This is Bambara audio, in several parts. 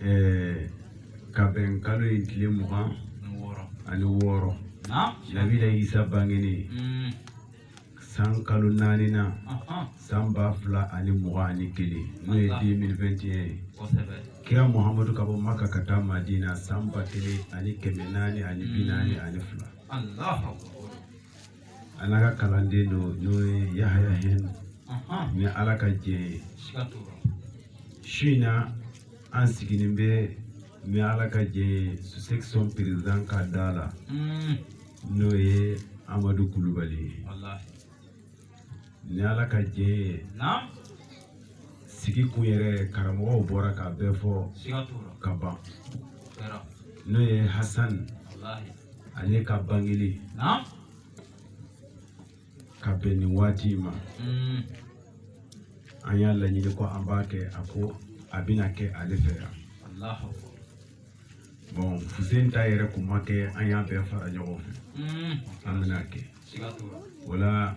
eh, ka bɛn kalo in tile mugan ani wɔɔrɔ nabila isa bangeni mm. san kalo naaninan san ba fila ani mugan ani kelen n'o ye 2021 ye kira muhamadu ka bɔ maka ka taa madina san ba kelen ani kɛmɛ naani ani bi naani ani fila A n'a ka kalanden don n'o ye Yahaya Hɛn ni Ala ka jɛ ye su in na an sigilen bɛ ni Ala ka jɛ ye section président ka da la n'o ye Amadu Kulubali ye ni Ala ka jɛ ye sigi kun yɛrɛ karamɔgɔw bɔra k'a bɛɛ fɔ ka ban n'o ye Hasani ale ka bangeli ka bɛn nin waati ma mm. an y'a laɲini ko an b'a kɛ a ko a bɛna kɛ ale fɛ yan bon fuseni ta yɛrɛ kun ma kɛ an y'a bɛɛ fara ɲɔgɔn fɛ mm. an bɛna kɛ wala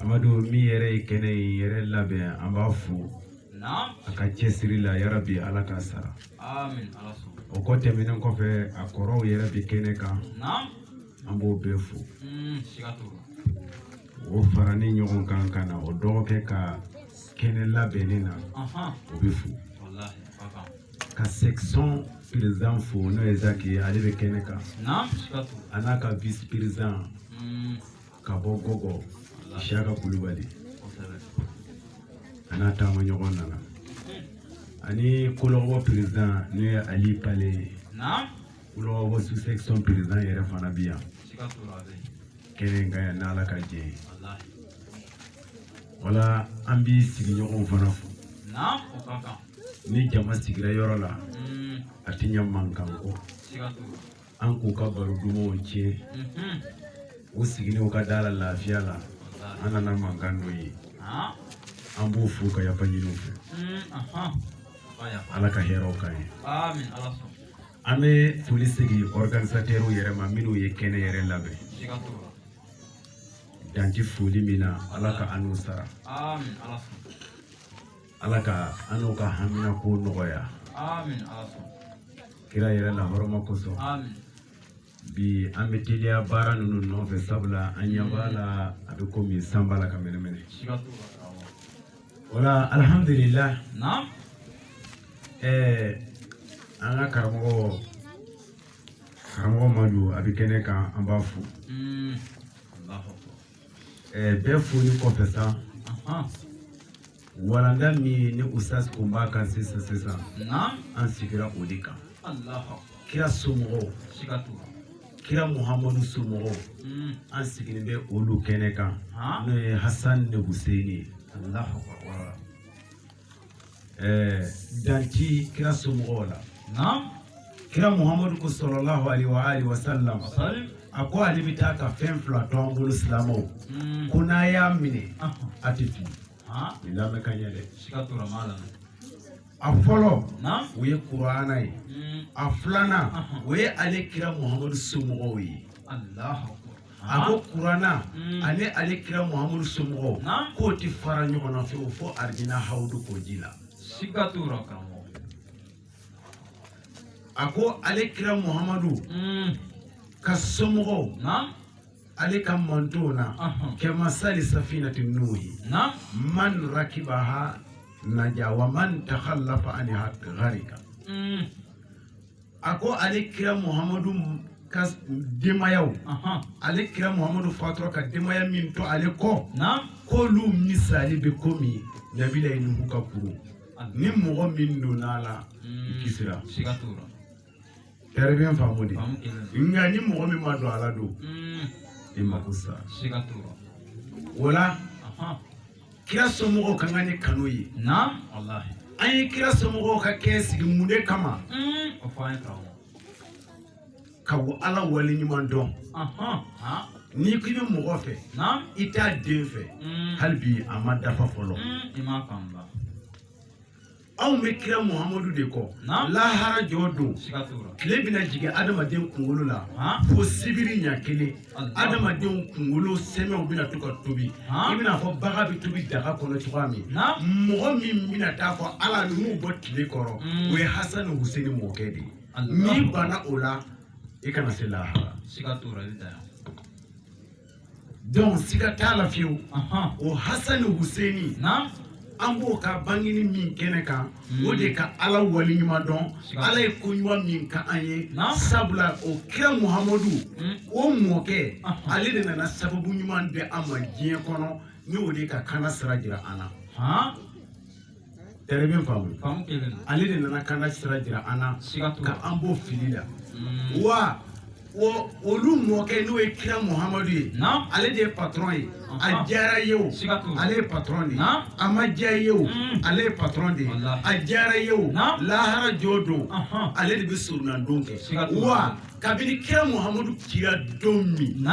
amadu min yɛrɛ ye kɛnɛ in yɛrɛ labɛn an b'a fo a ka cɛsiri la yarabi ala k'a sara o kɔ tɛmɛnen kɔfɛ a kɔrɔw yɛrɛ bɛ kɛnɛ kan an b'o bɛɛ fo mm, o farani ɲɔgɔn kan ka na o dɔgɔkɛ ka kɛnɛ labɛnni na o bɛ fo ka section président fo n'o ye zaki ye ale bɛ kɛnɛ kan a n'a ka vice président mm. ka bɔ gɔgɔ siyaka kulubali a n'a taamaɲɔgɔn nana ani kolɔgɔbɔ perezidan n'o ye ali pale ye kolɔgɔbɔ sous section perezidan yɛrɛ fana bi yan kɛnɛ kan yan n'ala ka jɛ ye wala an bi sigiɲɔgɔnw fana fo ni jama sigira yɔrɔ la a tɛ ɲɛ mankan kɔ an k'u ka baro dumanw tiɲɛ u sigilen u ka da la lafiya la an nana mankan dɔ ye an b'u fo ka yafa ɲini u fɛ ala ka hɛrɛw k'an ye an bɛ foli segin organisatɛriw yɛrɛ ma minnu ye kɛnɛ yɛrɛ labɛn dan ti foli min na ala ka an n'u sara ala ka an n'o ka haminanko nɔgɔya kira yɛrɛ la hɔrɔma kosɔn bi an bɛ teliya baara ninnu nɔfɛ sabula an ɲɛ b'a la a bɛ komi san b'a la ka mɛnɛmɛnɛ o la alihamudulila ɛɛ an ka karamɔgɔ karamɔgɔ madu a bɛ kɛnɛ kan an b'a fo mm. ɛɛ bɛɛ foli kɔfɛ sa Walanda min ni ustaz kun b'a kan sisan sisan an sigira o de kan kira somɔgɔw kira muhamadu somɔgɔw hmm. an sigilen bɛ olu kɛnɛ kan n'o ye hasan ni huseini ye dan tɛ kira somɔgɔw la kira muhammadu ko sallallahu alayhi wa alihi wa sallam a ko ale bɛ taa ka fɛn fila to an bolo silamɛw hmm. ko n'a y'a minɛ a tɛ fili nin lamɛn ka ɲɛ dɛ a fɔlɔ o ye kurana ye hmm. a filanan o ye ale kira muhammadu somɔgɔw ye a ko kurana hmm. ani ale kira muhammadu somɔgɔw k'o tɛ fara ɲɔgɔn na fiyewu fo arijina hawudu kɔji la. a ko ale kira muhamadu mm. ka somɔgɔw ale ka mantɔn na kamasali safinati nuhi man rakibaha naja wa man takhallafa anha gharika mm. a ko ale kira muhamadu ka denbayaw ale kira muhamadu fatura ka denbaya min to ale kɔ k'olu misali bɛ komi nabilahi nuhu ka kurun ni mɔgɔ min donna a la hmm. kisira siga t'o la très bien faamu dɛ nka ni mɔgɔ min ma don a la don hmm. i mako sa siga t'o la o la kira somɔgɔw ka kan ni kanu ye naam walahi an ye kira somɔgɔw ka kɛnɛ sigi mun de kama hmm. o fɔ an ye tan ka ala wale ɲuman dɔn n'i ko i bɛ mɔgɔ fɛ i t'a den fɛ mm. hali bi a ma dafa fɔlɔ mm, anw bɛ kira muhamadu de kɔ lahara jɔ don tile bɛna jigin adamaden kunkolo la fo sibiri ɲa kelen adamadenw kunkolo sɛmɛw bɛna to ka tobi i bɛna fɔ baga bɛ tobi daga kɔnɔ cogoya min mɔgɔ min bɛna taa fɔ ala ninnu bɔ tile kɔrɔ mm. o ye hasan ni huseni mɔkɛ de ye n'i banna o la i kana se lahara siga t'o la i bɛ t'a ye donc siga t'a la fiyewu o hasani huseni an b'o ka bangini min kɛnɛ kan o de ka ala wale ɲuman dɔn ala ye ko ɲuman min kɛ an ye sabula o kira muhamadu o mɔkɛ ale de nana sababu ɲuman di an ma diɲɛ kɔnɔ ni o de ka kana sira jira an na Très bien faamu ale de nana kana sira jira an na ka an bɔ fili la mm. wa olu mɔkɛ n'o ye kira muhamadu ye ale de ye patron ye a diyara i ye o ale ye patron de ye a ma diya i ye o mm. ale ye patron de ye a diyara i ye o lahara jɔ don ale de bɛ soronadon kɛ wa kabini kira muhamadu cira don min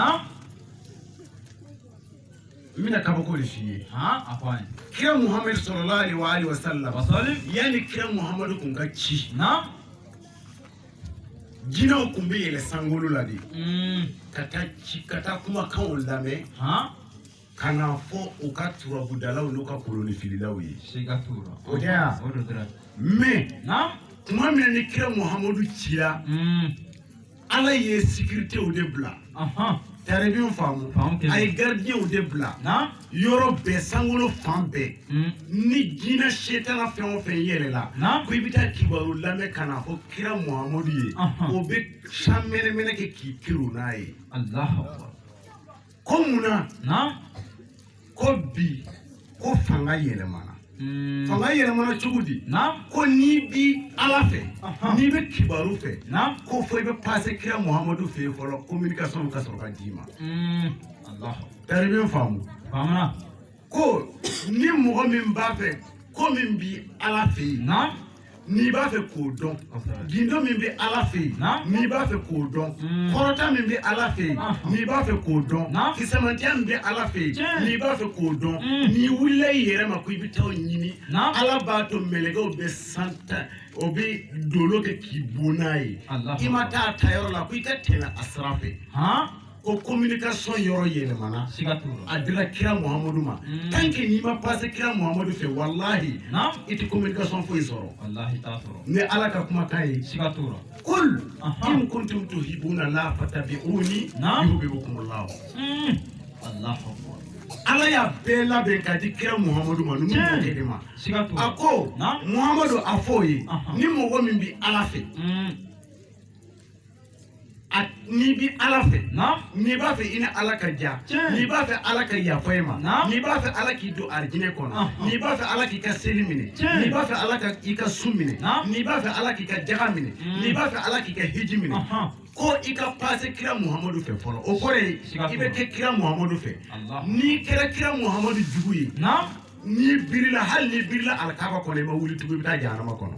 n bɛna kabako le f'i ye a f'an ye kira muhammad sallallahu alaihi wa alihi wasallam wasallim yani kira muhammad kun ka ci na jinaw kun bɛ yɛlɛ sangolo la de mm. ka taa ci ka taa kumakanw lamɛn ha ka na fɔ o ka turabudalaw n'o ka kolonifililaw ye siga t'o la o da o do dira mais na kuma min na ni kira muhammadu cira mm. ala ye sécuritéw de bila très bien faamu a ye garidiw de bila yɔrɔ bɛɛ sankolo fan bɛɛ hmm. ni jinɛ setana fɛn o fɛn yɛlɛla ko i bɛ taa kibaru lamɛn ka na fɔ kira muhamadu ye o bɛ san mɛnɛmɛnɛ kɛ k'i kiri n'a ye ko munna ko bi ko fanga yɛlɛmana hmm. fanga yɛlɛmana cogo di ko n'i bi ala fɛ n'i bɛ kibaru fɛ ko fo i bɛ passe kira muhamadu fɛ yen fɔlɔ communication ka sɔrɔ ka d'i ma hmm. très bien faamu ko ni mɔgɔ min b'a fɛ ko min bi ala fɛ yen n'i b'a fɛ k'o dɔn gindo min bɛ ala fɛ yen n'i b'a fɛ k'o dɔn hmm. kɔrɔta min bɛ ala fɛ yen n'i b'a fɛ k'o dɔn kisɛmantiya min bɛ ala fɛ yen n'i b'a fɛ k'o dɔn hmm. n'i wulila i yɛrɛ ma ko i bɛ taa o ɲini ala b'a to mɛlɛkɛw bɛ san ta o bɛ dolo kɛ k'i bon n'a ye i ma taa a ta yɔrɔ la ko i ka tɛmɛ a sira fɛ ko communication yɔrɔ yɛlɛmana siga t'o la a dira kira muhamadu ma mm. tant que n'i ma passe kira muhamadu fɛ walahi i tɛ communication foyi sɔrɔ walahi t'a sɔrɔ ni ala ka kumakan ye siga t'o la kul in kuntum tuhibuna la fatabi'uni yuhibbukum allah mm. allahu akbar ala y'a bɛɛ labɛn k'a di kira muhamadu ma numu mɔkɛ de ma a ko muhamadu a f'o ye ni mɔgɔ min bɛ ala fɛ mm. n'i bi ala fɛ n'i b'a fɛ i ni ala ka ja n'i b'a fɛ ala ka yafa i ma n'i b'a fɛ ala k'i don arijinɛ kɔnɔ n'i b'a fɛ ala k'i ka seli minɛ n'i b'a fɛ ala ka i ka su minɛ n'i b'a fɛ ala k'i ka jaga minɛ mm. n'i b'a fɛ ala k'i ka hiji minɛ ko i ka passe kira muhamadu fɛ fɔlɔ o kɔrɔ ye i bɛ kɛ kira muhamadu fɛ n'i kɛra kira muhamadu jugu ye n'i birila hali n'i birila alikaba kɔnɔ i ma wuli tugun i bɛ taa jahanama kɔnɔ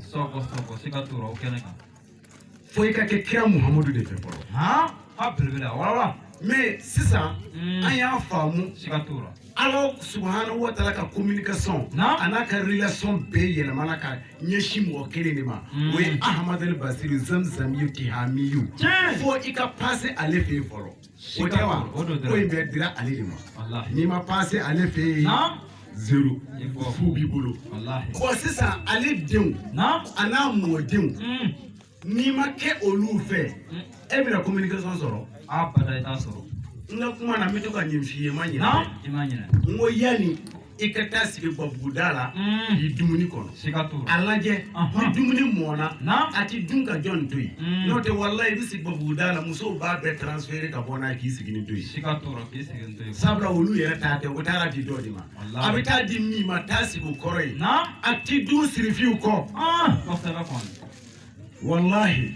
fo i ka kɛ kira muhamadu de fɛ fɔlɔ han a belebele a wala mais sisan mm. an y'a faamu siga t'o la ala subahanahu wa taala ka communication a n'a ka relation bɛɛ yɛlɛmana ka ɲɛsin mɔgɔ kelen de ma mm. o ye ahamadal basiri zamzamiyu tihamiyu fo i ka passe ale fɛ yen fɔlɔ O tɛ wa o don dɔrɔn. ko in bɛɛ dira ale de ma walahi n'i ma pase ale fɛ yen naam zero i bɔ fu b'i bolo walahi bɔn sisan ale denw naam a n'a mɔdenw Mm. n'i ma kɛ olu fɛ Mm. e bɛna communication sɔrɔ abada i t'a sɔrɔ n ka kuma na n bɛ to ka nin f'i ye n ma ɲinɛ naam i ma ɲinɛ n ko yanni i ka taa sigi gabuguda la mm. i dumuni kɔnɔ a lajɛ ni dumuni mɔna a ti dun ka jɔn to yen mm. n'o tɛ walahi i bɛ sigi gabuguda la musow b'a bɛɛ transfere ka bɔ n'a k'i siginin to yen sabula olu yɛrɛ ta tɛ o taara di dɔ de ma a bɛ taa di min ma taa sigi o kɔrɔ yen a ti dun sirifiw kɔ ah, walahi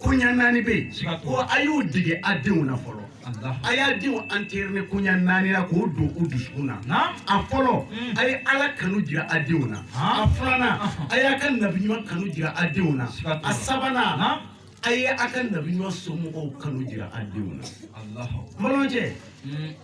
koɲa naani bɛ yen Siga t'o ko la. a y'u dege a denw na fɔlɔ Alahu. a y'a denw entraîner koɲa naani na k'o don u dusukun na Naam. a fɔlɔ Mm. a ye ala kanu jira a denw na Ah. a filanan Ahun. a y'a ka nabiɲuman kanu jira a denw na Siga t'o la. a sabanan Naam. a ye a ka nabiɲuman somɔgɔw kanu jira a denw na Alahu. balimakɛ Mm.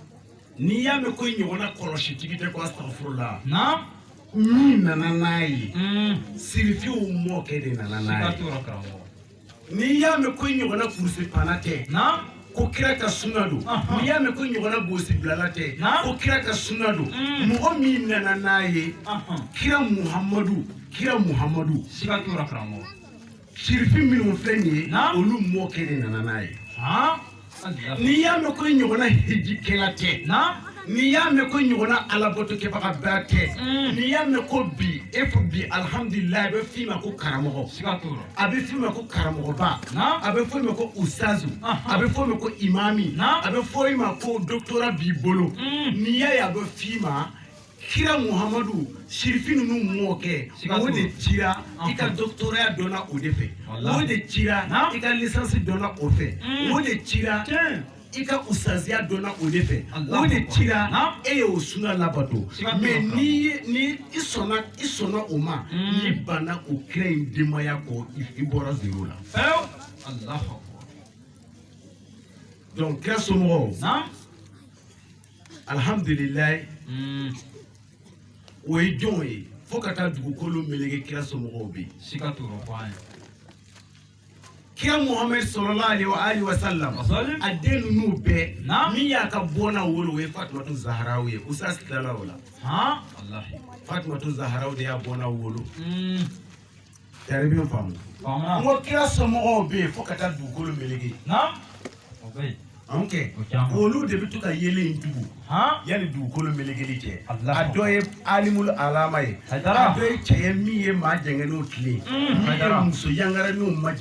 n'i y'a mɛn ko i ɲɔgɔnna kɔlɔsitigi tɛ ko astagfirullah Naam. min nana n'a ye mm. sirifiw mɔkɛ de nana n'a ye n'i y'a mɛn ko i ɲɔgɔnna kurusipanna tɛ ko kira ka sunna don n'i y'a mɛn ko ɲɔgɔnna bonsibilala tɛ ko kira ka sunna don mm. mɔgɔ min nana n'a ye kira muhamadu kira muhamadu Sirifi minnu filɛ nin ye olu mɔkɛ de nana n'a ye n'i y'a mɛn ko ɲɔgɔnna hejikɛla tɛ n'i y'a mɛn ko ɲɔgɔnna alabatokɛbaga bɛɛ tɛ mm. n'i y'a mɛn ko bi e ko bi alihamudulila a bɛ f'i ma ko karamɔgɔ a bɛ f'i ma ko karamɔgɔba a bɛ f'i ma ko usazu a bɛ f'i ma ko imami a bɛ f'i ma ko dɔkitɔra b'i bolo mm. n'i y'a ye a bɛ f'i ma kira muhamadu sirifi ninnu mɔkɛ o de cira i ka dɔkitɔra dɔnna o de fɛ o de cira i ka lisansi dɔnna o fɛ o de cira i ka usaziya dɔnna o de fɛ o de cira e y'o sunna labato mɛ ni ni i sɔnna i sɔnna o ma n'i banna o kira in denbaya kɔ i bɔra zero la donc kira somɔgɔw alihamdulilayi mm. o ye jɔnw ye fo ka taa dugukolo melege kira somɔgɔw bɛ yen siga t'o rɔ ko an ye kira muhamadu sallallahu alaihi wa ali wa salam a den ninnu bɛɛ min y'a ka bɔnna wolo o ye fatumatu zaharaw ye usazu tilala o la fatumatu zaharaw de y'a bɔnna wolo mm. Tari bɛ faamu n ko kira somɔgɔw bɛ yen fo ka taa dugukolo melege n ko olu de bɛ to ka yeelen in tugu yanni dugukolo melegeli cɛ a dɔ ye alimul alama ye a dɔ ye cɛ ye min ye maa jɛngɛnenw tilen min ye muso yangaranenw maj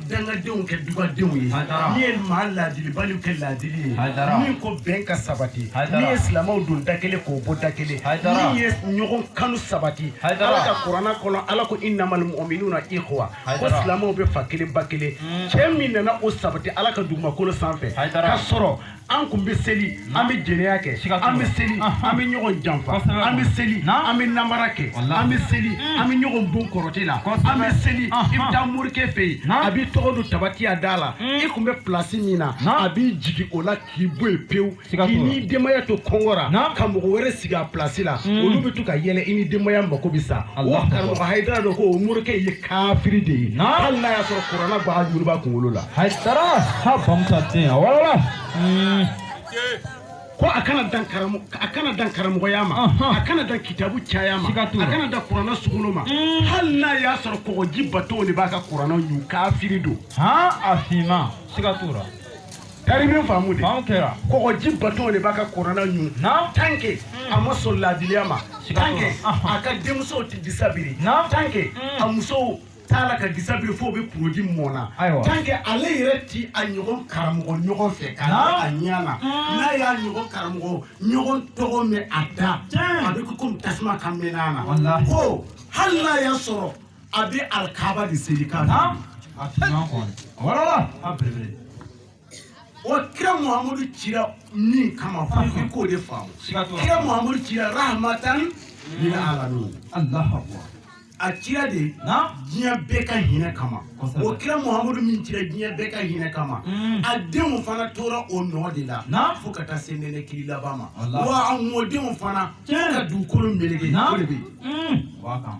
dangadenw kɛ dugadenw ye min ye maa laadilibaliw kɛ laadili ye min ko bɛn ka sabati min ye silamɛw don da kelen k'o bɔ da kelen min ye ɲɔgɔn kanu sabati ala ka kuranna kɔnɔ ala ko innamal mu'minuna ikhwa ko silamɛw bɛ fa kelen ba kelen cɛ min nana o sabati ala ka dugumakolo sanfɛ ka sɔrɔ an kun bɛ seli an bɛ jɛnɛya kɛ an bɛ seli an bɛ ɲɔgɔn janfa an bɛ seli an bɛ namara kɛ an bɛ seli an bɛ ɲɔgɔn bon kɔrɔtɛ la an bɛ seli i bɛ taa morikɛ fɛ yen a b'i tɔgɔ don tabati yada la i kun bɛ pilasi min na a b'i jigin o la k'i bɔ yen pewu k'i ni denbaya to kɔngɔ ra ka mɔgɔ wɛrɛ sigi a pilasi la olu bɛ to ka yɛlɛ i ni denbaya mako bɛ sa wa karamɔgɔ hayidara dɔ ko o morikɛ ye kafiri de ye hali n'a y'a sɔrɔ kuranna bajuru b'a kunkolo la hayidara ha bamusa ten wala ko a kana dan karamɔgɔ a kana dan karamɔgɔya ma a kana dan kitabu caya ma a kana dan kuranna sugolo ma hali n'a y'a sɔrɔ kɔgɔji batonw de b'a ka kuranna ɲun kafiri don a finma siga t'o la Kari min faamu de faamu kɛra kɔgɔji bato de b'a ka kuranna ɲun naam tant que hmm. a ma sɔn laadiliya ma tant que a ka denmusow tɛ disa biri naam tant que hmm. a musow t'a la ka disa biri f'o bɛ produit mu o na tant que ale yɛrɛ ti a ɲɔgɔn karamɔgɔ ɲɔgɔn fɛ ka a ɲɛ na hmm. n'a y'a ɲɔgɔn karamɔgɔ ɲɔgɔn tɔgɔ mɛn a da a bɛ kɛ komi tasuma ka mɛnɛ a na ko hali n'a y'a sɔrɔ a bɛ alikaba de seli kan na a fiɲɛ kɔni wala a belebele o kira muhammadu cira min kama fo i k'o de faamu kira muhammadu cira rahmatan lil alamin alahu akbar a cira de diɲɛ bɛɛ ka hinɛ kama o kira muhammadu min cira diɲɛ bɛɛ ka hinɛ kama mm. a denw fana tora o nɔ de la fo ka taa se nɛnɛ kiri laban ma wa a mɔdenw fana fo ka dugukolo meleke o de bɛ yen mm.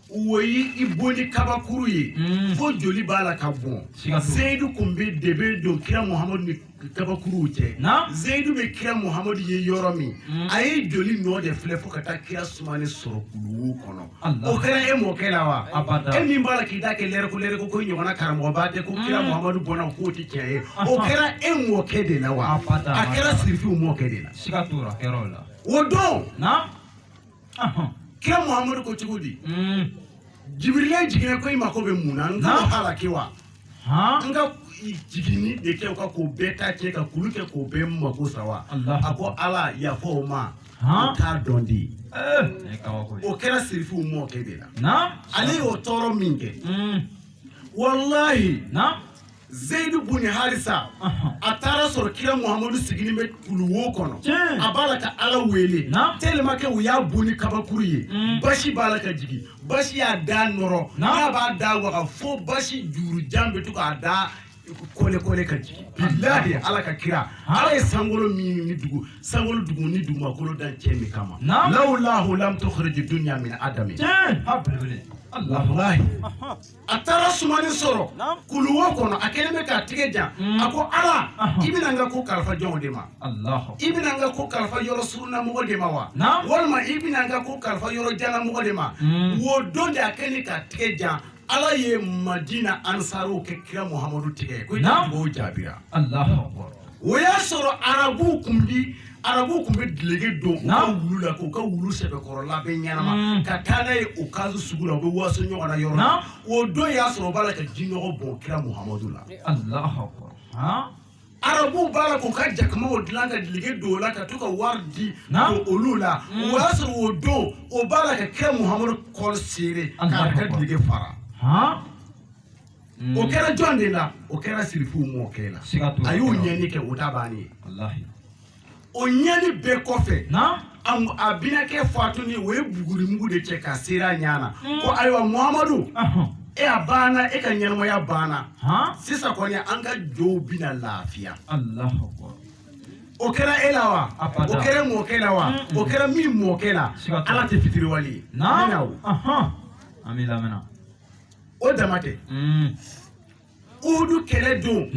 o y'i bon ni kabakuru ye mm. fo joli b'a la ka bɔn seyidu kun bɛ de bɛ don kira muhamadu ni kabakuruw cɛ seyidu bɛ kira muhamadu ye yɔrɔ min mm. a ye joli nɔ de filɛ fo ka taa kira sumani sɔrɔ kuluwo kɔnɔ o kɛra e mɔkɛ la wa e min b'a la k'i da kɛ lɛrɛko lɛrɛko ko ɲɔgɔnna karamɔgɔba tɛ ko kira mm. muhamadu bɔnna k'o tɛ tiɲɛ ye o kɛra e mɔkɛ de la wa a kɛra sirifiw mɔkɛ de la o don kira muhamadu ko cogo di mm. jibirila jiginna ko i mako bɛ mun na n k'a halaki wa n ka jiginni de kɛ o kan k'o bɛɛ ta cɛ ka kulu kɛ k'o bɛɛ mako sa wa a ko ala yafa o ma o t'a dɔn de ye eh. o kɛra sirifiw mɔkɛ de la ale y'o tɔɔrɔ min kɛ mm. walahi Zeyidu bun harisa a taara sɔrɔ kira muhammadu sigilen bɛ kuluwo kɔnɔ a b'a la ka ala wele tellement que u y'a bon ni kabakuru ye mm. basi b'a la ka jigin basi y'a da nɔrɔ n'a b'a da waga fo basi jurujan bɛ to k'a da kole kole ka jigin bilahi de ala ka kira ala ye sankolo min ni dugu sankolo dugu ni dugumakolo dan cɛ min kama lawlahu lam tukhrij dunya min adami wallahi a taara sumani sɔrɔ kuluwo kɔnɔ a kɛlen bɛ k'a tigɛ jan mm. a ko ala i bɛna n ka ko kalifa jɔnw de ma i bɛna n ka ko kalifa yɔrɔ surunamɔgɔ de ma wa walima i bɛna n ka ko kalifa yɔrɔ janamɔgɔ de ma mm. wo don de a kɛlen k'a tigɛ jan ala ye madina ansaruw kɛ kira muhamadu tigɛ ko i ka dugawu jaabira o y'a sɔrɔ arabuw kun bi arabu tun bɛ dilege don u ka wulu la k'u ka wulu sɛbɛkɔrɔ labɛn ɲɛnama mm. ka taa n'a ye ukazu sugu la u bɛ waso ɲɔgɔn na yɔrɔ la o don y'a sɔrɔ o b'a la ka jinɔgɔ bɔn kira muhamadu la arabuw b'a la k'u ka jakumaw dilan ka dilege don o la ka to ka wari di don olu la mm. o y'a sɔrɔ o don o b'a la ka kira muhamadu col serrer k'a ka dilege fara mm. o kɛra jɔn de la o kɛra sirifuw mɔkɛ la a y'o ɲɛni kɛ o ta bannen ye o ɲɛni bɛɛ kɔfɛ a binakɛ fatuni o ye bugurimugu de cɛ ka seri a ɲɛ na mm. ko ayiwa muhamadu e a banna e ka ɲɛnamaya banna sisan kɔni an ka jow bɛna lafiya o kɛra e la wa o kɛra mɔkɛ la wa mm. o kɛra min mɔkɛ la ala tɛ fitiriwale ye. o dama tɛ uhudu mm. kɛlɛ don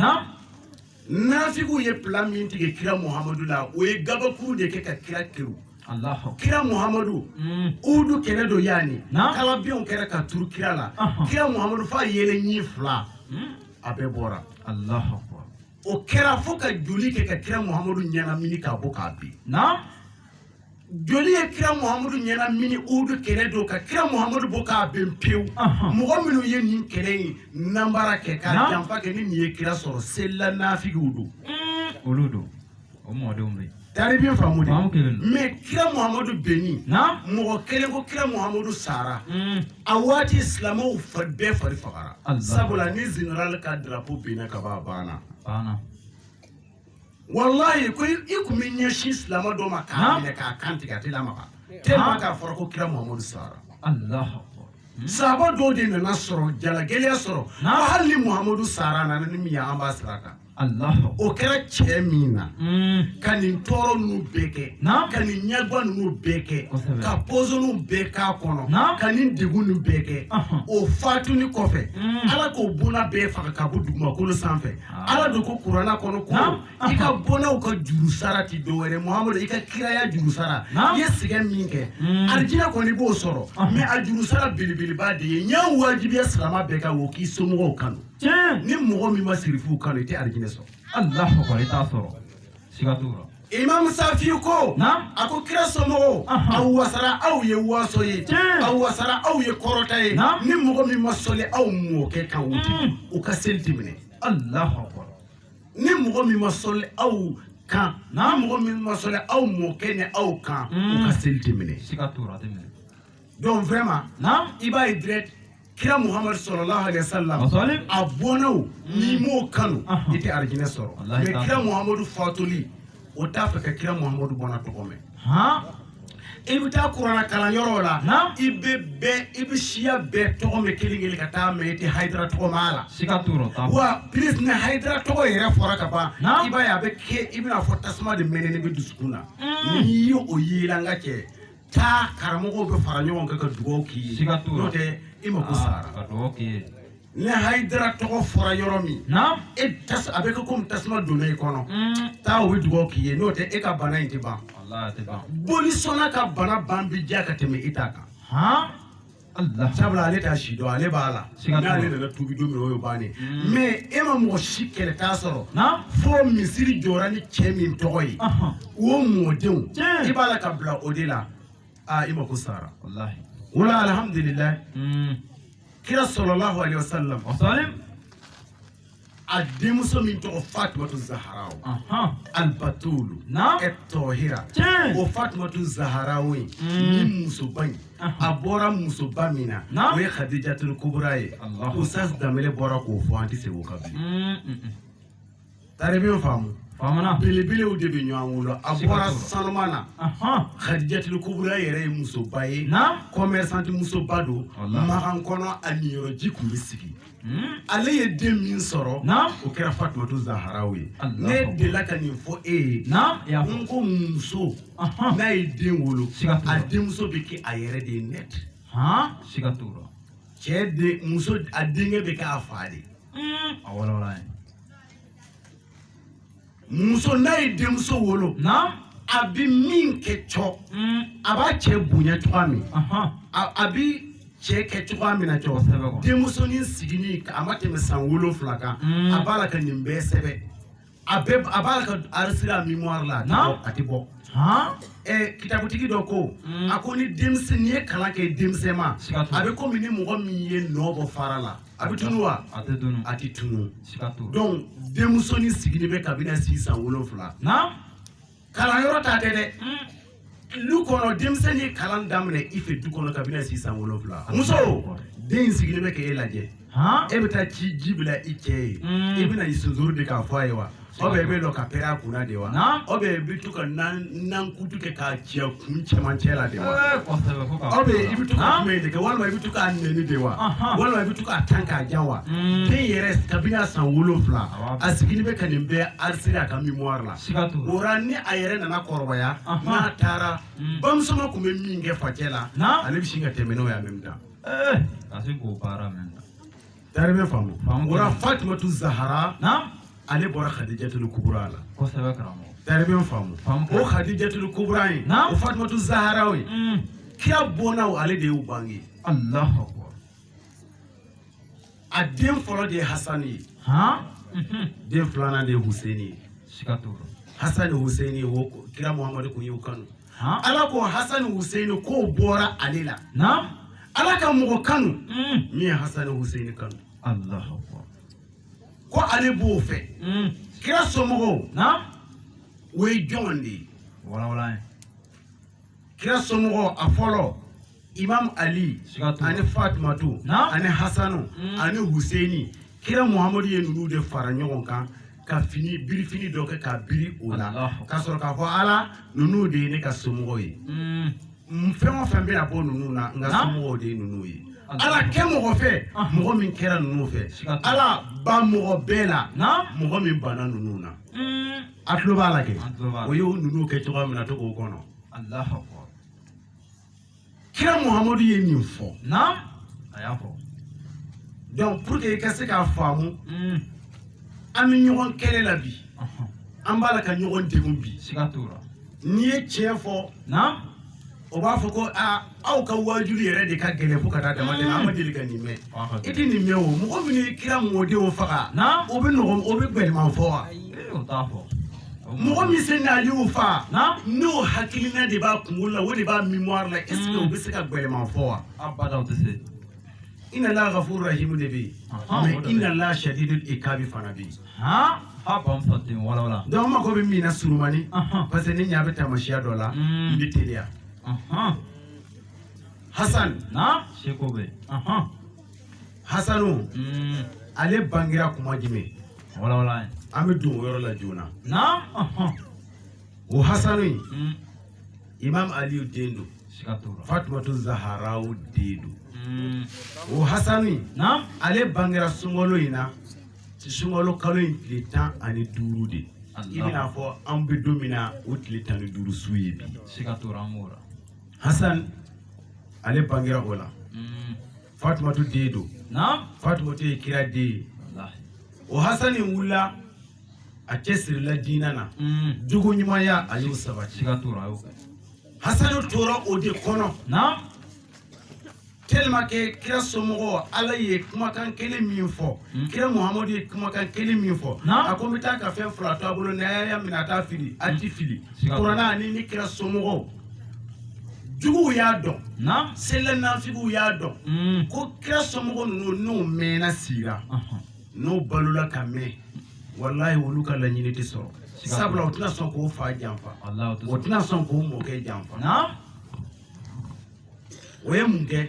nafigiw ye plan min tigɛ kira muhamadu la o ye gabakuru de kɛ ka kira kɛrun kira muhamadu mm. uhudu kɛlɛ don yani kalabiɲɛw kɛra ka turu kira la kira muhamadu f'a yɛlɛɲin fila mm. a bɛɛ bɔra o kɛra fo ka joli kɛ ka kira muhamadu ɲɛnamini k'a bɔ k'a bin joli ye kira muhamadu ɲɛnamini uhudu kɛlɛ don ka kira muhamadu bɔ k'a ben pewu mɔgɔ minnu ye nin kɛlɛ in nanbara kɛ ka janfa kɛ ni nin ye kira sɔrɔ selila nafigiw don olu don o mɔdenw bɛ taribi faamu dɛ mais kira muhamadu benni mɔgɔ kelen ko kira muhamadu sara mm. a waati silamɛw bɛɛ fari fagara sabula ni général ka drapeau benna ka ban a banna walayi ko i kun bɛ ɲɛsin silamɛ dɔ ma k'a minɛ k'a kan tigɛ a tɛ lamaga tellement k'a fɔra ko kira muhamadu sara sahaba dɔw de nana sɔrɔ jalagɛlɛya sɔrɔ ko hali ni muhamadu sara nana ni min ye an b'a sira kan o kɛra cɛ min na hmm. ka nin tɔɔrɔ ninnu bɛɛ kɛ ka nin ɲɛgwa ninnu bɛɛ kɛ ka pɔsɔniw bɛɛ k'a kɔnɔ ka nin degun ninnu bɛɛ kɛ o fatuni kɔfɛ hmm. ala k'o bɔnna bɛɛ faga ka bɔ dugumakolo sanfɛ ala dun ko kurana kɔnɔ ko i ka bɔnnaw ka juru sara ti dɔ wɛrɛ muhamadu i ka kiraya juru sara i ye sɛgɛn min kɛ hmm. alijinɛ kɔni b'o sɔrɔ ah. mais a juru sara belebeleba de ye n y'a wajibiya silama bɛɛ kan o k'i somɔgɔw kanu ni mɔgɔ min ma sirifuw kanu i tɛ alijinɛ sɔrɔ alahu akbar i t'a sɔrɔ Imam Safi ko a ko kira somɔgɔw a wasara aw ye waso ye a wasara aw ye kɔrɔta ye ni mɔgɔ min ma sɔli aw mɔkɛ kan mm. u ka seli tɛ minɛ ni mɔgɔ min ma sɔli aw kan ni mɔgɔ min ma sɔli aw mɔkɛ ni aw kan u ka mm. seli tɛ minɛ donc vraiment naam i b'a ye direct kira muhamadu sɔlɔlahu alaihi wasallam Wasalim. a bɔnnaw n'i m'o kanu Ahan. i tɛ arijinɛ sɔrɔ Walahi i t'a sɔrɔ. mais kira muhamadu fatuli o t'a fɛ ka kira muhamadu bɔnna tɔgɔ mɛn han i bɛ taa kurana kalan yɔrɔw la Naam. i bɛ bɛɛ i bɛ siya bɛɛ tɔgɔ mɛn kelen kelen ka taa mais i tɛ hayidara tɔgɔ mɛn a la siga t'o la wa plus ni hayidara tɔgɔ yɛrɛ fɔra ka ban Naam. i b'a ye a bɛ kɛ i bɛna fɔ tasuma de mɛnɛnen bɛ dusukun na Mm. n'i ye o ye i la n ka cɛ taa karamɔgɔw bɛ fara ɲɔgɔn kan ka dugawu k'i ye siga t'o la n'o tɛ i mako sara ka dugawu k'i ye ni hayidara tɔgɔ fɔra yɔrɔ min na e a bɛ kɛ komi tasuma donna i kɔnɔ mm. taa o bɛ dugawu k'i ye n'o tɛ e ka bana in tɛ ban bolisɔnna ka bana ban bi diya ka tɛmɛ i ta kan sabula ale t'a si dɔn ale b'a la n'ale nana tubi don min o y'o bannen hmm. mais e ma mɔgɔ si kɛlɛta sɔrɔ fo misiri jɔra ni cɛ min tɔgɔ ye o mɔdenw i b'a la ka bila o de la aa i mako sara o la alhamdulilayi hmm. kira sɔlɔlahu alayhi wa sallam a denmuso min tɔgɔ fatumatu zaharaw alibatulu ɛ tɔhira o fatumatu zaharaw ye mm. ni musoba in a bɔra musoba min na o ye hadijatul kubura ye ustaz danbele bɔra k'o fɔ an tɛ segin o kan bilen mm, mm, talibɛ faamu belebelew de bɛ ɲɔgɔn wolo a bɔra sanuman na hadijatul kubura yɛrɛ ye musoba ye kɔmɛrisanti musoba don makan kɔnɔ a niyɔrɔji tun bɛ sigi ale ye den min sɔrɔ o kɛra fatumatu zaharaw ye ne dela ka nin fɔ e ye n ko muso n'a ye den wolo a denmuso bɛ kɛ a yɛrɛ de ye nɛt siga t'o la cɛ den muso a denkɛ bɛ kɛ a fa de ye a wolola ye muso n'a ye denmuso wolo a bɛ min kɛ cɔ mm. a b'a cɛ bonya cogoya min a bɛ cɛ kɛ cogoya min na cɔ denmusonin sigilen a ma tɛmɛ san wolonfila kan mm. a b'a la ka nin bɛɛ sɛbɛn a bɛɛ a b'a la ka arisiri a mémoire la a tɛ bɔ ɛ kitabutigi dɔ ko mm. a ko ni denmisɛn n'i ye kalan kɛ denmisɛnma a bɛ komi ni mɔgɔ min ye nɔ bɔ fara la a bɛ tunu wa a tɛ tunu a tɛ tunu siga t'o la donc denmusonin sigilen bɛ kabini a si san wolonwula naam kalanyɔrɔ ta tɛ dɛ du kɔnɔ denmisɛn ye kalan daminɛ i fɛ du kɔnɔ kabini a si san wolonwula muso den in sigilen bɛ k'e lajɛ han e bɛ taa ci ji bila i cɛ ye i bɛna i sonsoro de k'a fɔ a ye wa ou bien i bɛ to ka pɛrɛn a kunna de wa ou bien i bɛ to ka nakutu kɛ k'a ci a kun cɛmancɛ la de wa ou bien i bɛ to ka kuma in de kɛ walima i bɛ to k'a nɛni de wa walima i bɛ to k'a tan k'a ja wa den mm. yɛrɛ kabini a san wolonwula a sigilen bɛ ka nin bɛɛ arisiri a ka mémoire la o la ni a yɛrɛ nana kɔrɔbaya n'a taara mm. bamusoma tun bɛ min kɛ facɛ la ale bɛ sin ka tɛmɛ n'o ye en même temps. Eh, Tari i b'a faamu o la fatumatu zahara ale bɔra hadijatul kubura la tari i b'a faamu ko hadijatul kubura ye fatumatu zahara ye kira bɔnnaw ale de y'u bange a den fɔlɔ de ye hasani ye den filanan de ye huseini ye hasani huseini o kira muhamadu tun y'u kanu ala ko hasani huseini k'o bɔra ale la ala ka mɔgɔ kanu mm. min ye hasani huseini kanu ko ale b'o fɛ mm. kira somɔgɔw o ye jɔn de ye kira somɔgɔw a fɔlɔ imam ali ani fatumatu ani hasanu mm. ani huseini kira muhamadu ye ninnu de fara ɲɔgɔn kan ka fini birifini dɔ kɛ ka biri o la ka sɔrɔ k'a fɔ ala ninnu de ye ne ka somɔgɔw ye mm. fɛn o fɛn bɛna bɔ ninnu na n ka somɔgɔw de ye ninnu ye ala kɛ mɔgɔ fɛ ah. mɔgɔ min kɛra ninnu fɛ ala ban mɔgɔ bɛɛ la mɔgɔ min banna ninnu na mm. a tulo b'a la kɛ o y'o ninnu kɛ cogoya min na to k'o kɔnɔ kira muhamadu ye min fɔ naam a y'a fɔ donc pour que i ka se k'a faamu mm. an bɛ ɲɔgɔn kɛlɛ la bi an b'a la ka ɲɔgɔn degun bi siga t'o la n'i ye tiɲɛ fɔ naam o b'a fɔ ko aa aw ka waajuli yɛrɛ de ka gɛlɛn fo ka taa dama tɛmɛ an ma deli ka nin mɛn i tɛ nin mɛn o mɔgɔ minnu ye kira mɔdenw faga o bɛ nɔgɔ o bɛ gbɛlɛman fɔ wa o t'a fɔ mɔgɔ min se na y'u fa n'o hakilina de b'a kunkolo la o de b'a mémoire la est ce que u bɛ se ka gɛlɛman fɔ wa inna allaha ghafurur rahim de bɛ yen mais inna allaha shadidul iqabi fana bɛ yen donc n mako bɛ min na surumani parce que ni ɲa bɛ taamasiya dɔ la n bɛ teliya hasan se bɛ Hasanu mm. ale bangera kuma jumɛn an bɛ don o yɔrɔ la joona o hasanu in mm. imam aliyu den don fatumatu zaharaw den don mm. o hasanu in ale bangera sunkalo in na sunkalo kalo in tile tan ani duuru de i bɛna fɔ an bɛ don min na o tile tan ni duuru su ye bi hasan ale bangera o la Fatumatu den don Fatumatu ye kira den ye o Hasani wulila a cɛsirila diinɛ na mm. jogo ɲumanya a y'o sabati Hasani tora o de kɔnɔ tellement que kira somɔgɔ ala ye kumakan kelen min fɔ mm. kira muhamadu ye kumakan kelen min fɔ a ko n bɛ taa ka fɛn fila to a bolo n'a y'a minɛ a t'a fili a tɛ fili kurana ani ne kira somɔgɔw juguw y'a dɔn selanafigiw y'a dɔn mm. ko kira somɔgɔ ninnu n'u mɛnna sigira n'u balola ka mɛn walayi olu ka laɲini tɛ sɔrɔ sabula u tɛna sɔn k'o fa janfa o tɛna sɔn k'o mɔkɛ janfa o ye mun kɛ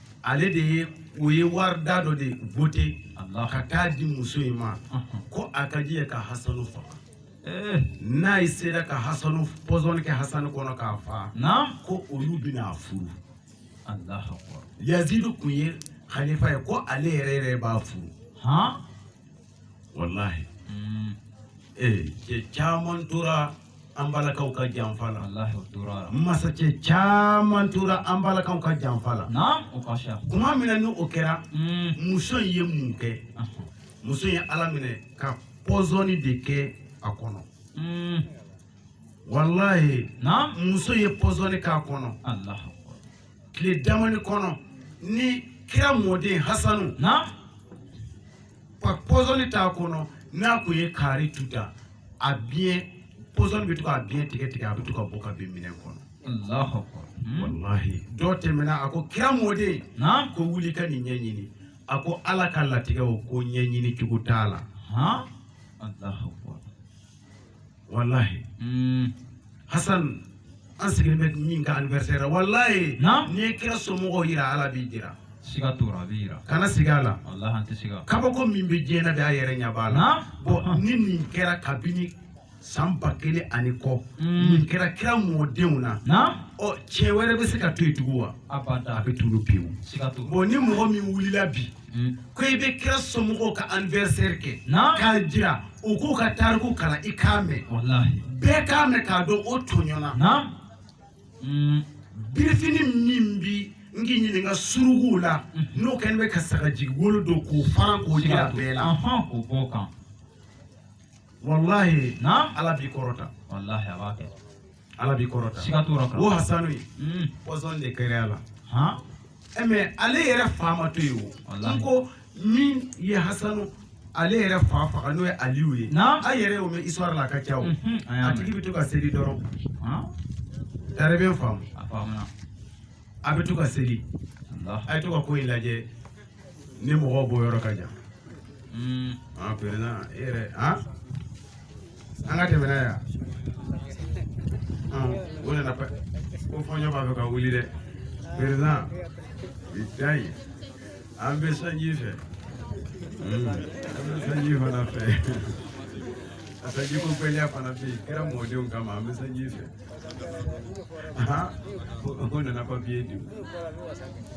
ale de ye o ye wari da dɔ de voter Alahu ka taa di muso in ma Ɔhɔn. ko a ka jɛn ka hasanu faga Eh, n'a ye sera ka hasanu pɔsɔni kɛ hasanu kɔnɔ k'a faga Naam. ko olu bɛna a furu Alahu akbar. yazidu kun ye halifa ye ko ale yɛrɛ yɛrɛ b'a furu Han? walahi mm. eh, cɛ caman tora an balakaw ka janfa la masakɛ caman tora an balakaw ka janfa la kuma min na ni o kɛra mm. muso in ye mun kɛ muso ye a laminɛ ka pɔsɔni de kɛ a kɔnɔ mm. walahi muso ye pɔsɔni k'a kɔnɔ tile damani kɔnɔ ni kira mɔden hasanu ka pɔsɔni t'a kɔnɔ n'a kun ye kaari tuta a biɲɛ pɔsɔni bɛ to k'a biɲɛ tigɛ tigɛ a bɛ to ka bɔ ka bin minɛn kɔnɔ hmm? walahi dɔ tɛmɛna a ko kira mɔden ko wuli ka nin ɲɛɲini a ko ala ka latigɛ o ko ɲɛɲini cogo t'a la wallahi mm. hasan an sigilen bɛ min ka anniversaire wallahi n'i ye kira somɔgɔw yira ala b'i jira siga t'o la a bɛ yira kana siga a la wallahi an tɛ siga kabako min bɛ diɲɛ na bi a yɛrɛ ɲɛ b'a la bon ni nin kɛra kabini san ba kelen ani kɔ mm. nin kɛra kira mɔdenw na ɔ tiɲɛ wɛrɛ bɛ se ka to yen tugun wa a bɛ tunun pewu bon ni mɔgɔ min wulila bi Hmm. Ko i bɛ kira somɔgɔw ka anniversaire kɛ. Naamu. K'a jira u k'u ka tariku kalan i k'a mɛn. Walahi. Bɛɛ k'a mɛn k'a dɔn o tɔɲɔna. Naamu. Hmm. Birifini min bi n k'i ɲininka suruguw la hmm. n'o kɛlen bɛ ka sagajigi wolo don k'o fara k'o jira bɛɛ la. K'o bɔ o kan. Walahi. Naamu. Ala b'i kɔrɔta. Walahi a b'a kɛ. Ala b'i kɔrɔta siga t'o la o Hasanu in mm. pɔsɔn de kɛra a la han eh, mais ale yɛrɛ fa ma to yen o n ko min ye Hasanu ale yɛrɛ fa faga n'o ye Aliyu ye a yɛrɛ y'o mɛn histoire la a ka ca o mhm, a tigi bɛ to ka seli dɔrɔn Tare bɛ n faamu a faamuna a bɛ to ka seli a bɛ to ka ko in lajɛ ni mɔgɔw bɔyɔrɔ ka jan hmm. an président e yɛrɛ an an ka tɛmɛ n'a ye o nana ko fɔɲɔ b'a fɛ ka wuli dɛ président bilayi an bɛ sanji fɛ hmm. an bɛ sanji fana fɛ a sanji ko gɛlɛya fana bɛ yen kira mɔdenw kama an bɛ sanji fɛ ko nana papiye di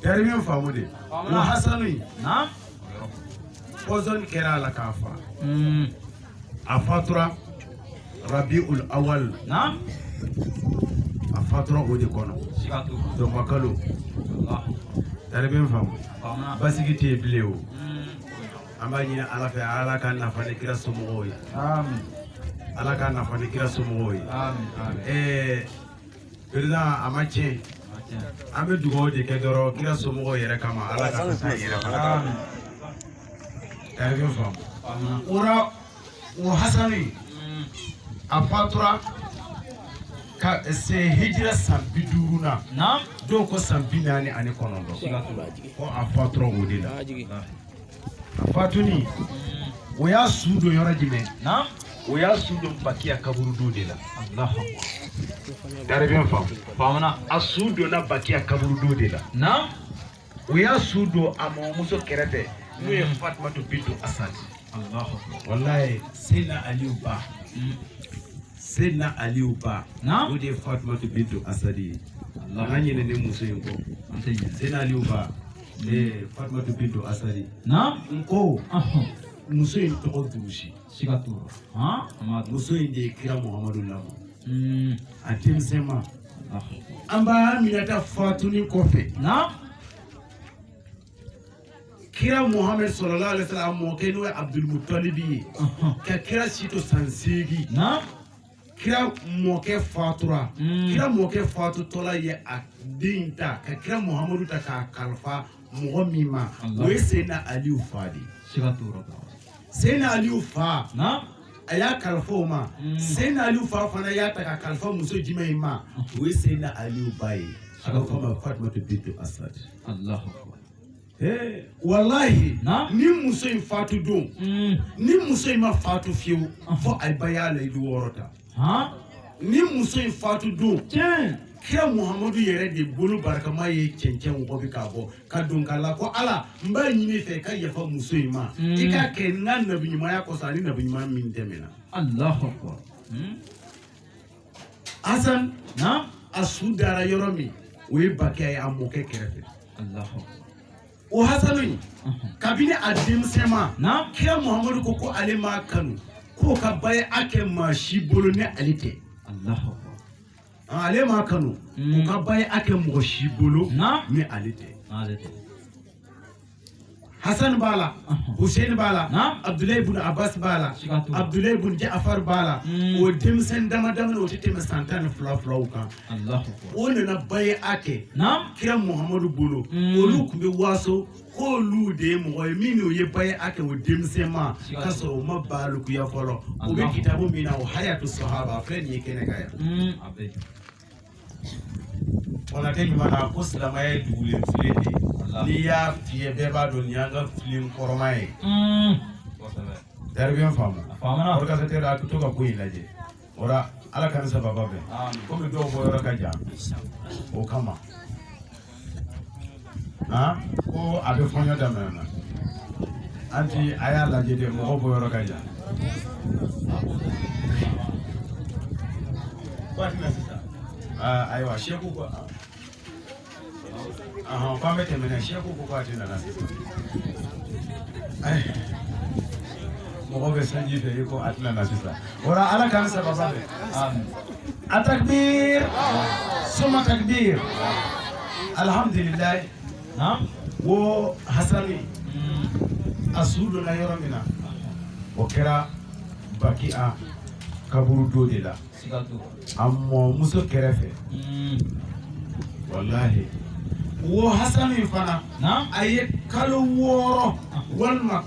Tare bɛ n faamu de wa hasanu in pɔsɔn kɛra a la k'a fa hmm. a fatura rabi ul awal a fatura o de kɔnɔ dɔnbakalo Tare bɛ n faamu basigi tɛ yen bilen o hmm. an b'a ɲini ala fɛ ala k'an nafa ni kira somɔgɔw ye ala k'an nafa ni kira somɔgɔw ye ɛɛ président a ma tiɲɛ an bɛ dugawu de kɛ dɔrɔn kira somɔgɔw yɛrɛ kama ala ka fisa yɛrɛ fana kama Tare bɛ n faamu o la o hasani a fatura ka se hijira san bi duuru na dɔw ko san bi naani ani kɔnɔntɔn ko a fatura o de la fatuni o y'a su don yɔrɔ jumɛn o y'a su don bakiya kaburudo de la Tare bɛ n faamu faamuna a su donna bakiya kaburudo de la o y'a su don a mɔmuso kɛrɛfɛ n'o ye fatumatu bintu asadi walayi seyidina aliyu ba mm. seyidina aliyu ba o de ye fatumatu bintu asadi ye an kana ɲinɛ nin muso in kɔ seyidina aliyu ba Ee fatumata bintu asadi na n ko muso in tɔgɔ durusi siga t'o la muso in de ye kira muhamadu lamɔ a denmisɛnma an ba aminata fatuni kɔfɛ na kira muhamadu sallallahu alayhi wa sallam a mɔkɛ n'o ye abudulmutalibi ye ka kira si to san seegin na kira mɔkɛ fatura hmm. kira mɔkɛ fatutɔla ye a den ta ka kira muhamadu ta k'a kalifa mɔgɔ min ma o ye seyidina aliyu fa de seyidina aliyu fa a y'a kalifa o ma hmm. seyidina aliyu fa fana y'a ta k'a kalifa muso jumɛn in ma o ye seyidina aliyu ba ye a bɛ fɔ a ma fatumata bintu asad walahi ni muso in fatu don mm. ni muso in ma fatu fiyewu ah. fo a ye bay'a layidu wɔɔrɔ ta ni muso in fatu don kira muhamadu yɛrɛ de bolo barikama ye cɛncɛn wɔgɔbɛ k'a bɔ k'a don k'a la ko ala n b'a ɲini i fɛ ka yafa muso in ma mm. i k'a kɛ n ka nabiɲumanya kosɔn ani nabiɲuman min tɛmɛna Hasan a su dara yɔrɔ min o ye bakiya ye a mɔkɛ kɛrɛfɛ o hasanu in kabini a denmisɛnma kira muhamadu ko ko ale m'a kanu k'o ka bay'a kɛ maa si bolo ni ale tɛ ale m'a kanu o ka bay'a kɛ mɔgɔ si bolo ni ale tɛ Hassan b'a la Hussein b'a la Abdullahi bin Abbas b'a la Abdullahi bin Ja'far b'a la hmm. o denmisɛn dama dama o tɛ tɛmɛ san tan ni fila filaw kan o nana bay'a kɛ kira Muhammadu bolo hmm. olu tun bɛ waso k'olu de ye mɔgɔ ye min n'o ye bay'a kɛ o denmisɛnma k'a sɔrɔ o ma balikuya fɔlɔ o bɛ kitabu min na o hayatu sahaba filɛ nin ye kɛnɛ kan yan hmm. Wala tɛ ɲuman na ko silamɛya ye dugulen file de ye n'i y'a fiyɛ bɛɛ b'a dɔn nin y'an ka file kɔrɔma ye dɛrɛ bɛ n faamu o ka tɛ a to ka ko in lajɛ o la ala k'an ni sababu bɛn komi dɔw bɔ yɔrɔ ka jan o kama ko a bɛ fɔɲɔ daminɛ na an ti a y'a lajɛ de mɔgɔw bɔ yɔrɔ ka jan ayiwa seku ko k'an bɛ tɛmɛ n'a ye seku ko k'a ti na na sisan mɔgɔw bɛ sanji fɛ i ko a ti na na sisan o la ala k'an saba bɛ a takbir suma takbir alihamdulilayi o hasani a su donna yɔrɔ min na o kɛra bakiya kaburudo de la a mɔmuso kɛrɛfɛ hmm. walahi o hasani fana a ye kalo wɔɔrɔ walima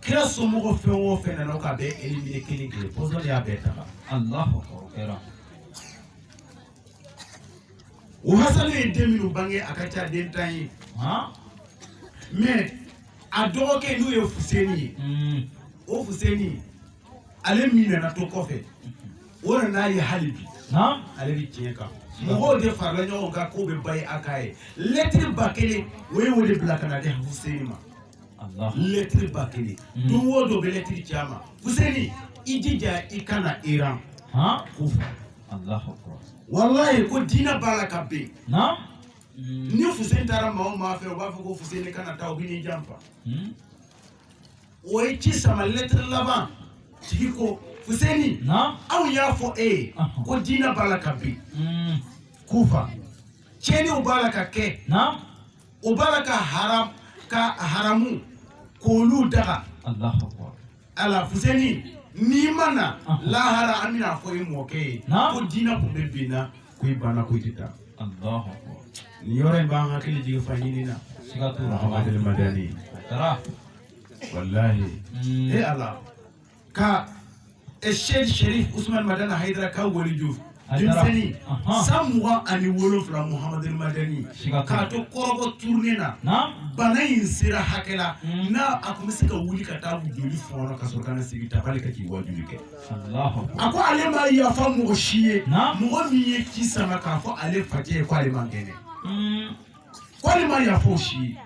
kira somɔgɔ fɛn o fɛn nana u k'a bɛɛ elimine kelen kelen pɔsɔn de y'a bɛɛ ta alahu akbar o hasani ye den minnu bange a ka ca den tan ye mɛ a dɔgɔkɛ n'o ye fuseni ye hmm. o fuseni ale min nana to kɔfɛ u nan'a ye hali bi ale bɛ tiɲɛ kan mɔgɔw de farala ɲɔgɔn kan k'u bɛ baya k'a ye lɛtiri ba kelen u ye o de bila ka na di fuseni ma lɛtiri ba kelen mm. don o don u bɛ lɛtiri ci a ma Fuseni i jija i ka na Iran Kufa walayi ko diinɛ b'a la ka bin mm. ni Fuseni taara maa o maa fɛ o b'a fɔ ko Fuseni kana taa u bɛn'i janfa mm. u ye ci sama lɛtiri laban tigi ko Fuseni anw y'a fɔ e ye ko diinɛ b'a la ka bin Kufa tiɲɛniw b'a la ka kɛ. u b'a la ka haramu kolu daga Allahu akbar ala Fuseni n'i ma na Ɔnhɔn. lahara an bɛn'a fɔ i mɔkɛ ye Naam. ko diinɛ kun bɛ binna ko i banna ko i tɛ taa Allahu akbar nin yɔrɔ in b'an hakili jigin fa ɲini na siga t'o la Muhamadu Madani Hayidara walahi Mm. e ala ka Seyid Sɛrifu Usumani Madɛni Hayidara ka waliju denmisɛnnin san mugan ani wolonfila Muhamadu Madɛni k'a to Kɔrɔgɔ turune na bana in sera hakɛ la hmm. n'a a tun bɛ se ka wuli ka taa joli fɔɔnɔ ka sɔrɔ ka na sigi tabali kan k'i wajuli kɛ a ko ale ma yafa mɔgɔ si ye mɔgɔ min ye ci sama k'a fɔ ale facɛ ye ko ale man kɛnɛ hmm. ko ale ma yafa o si ye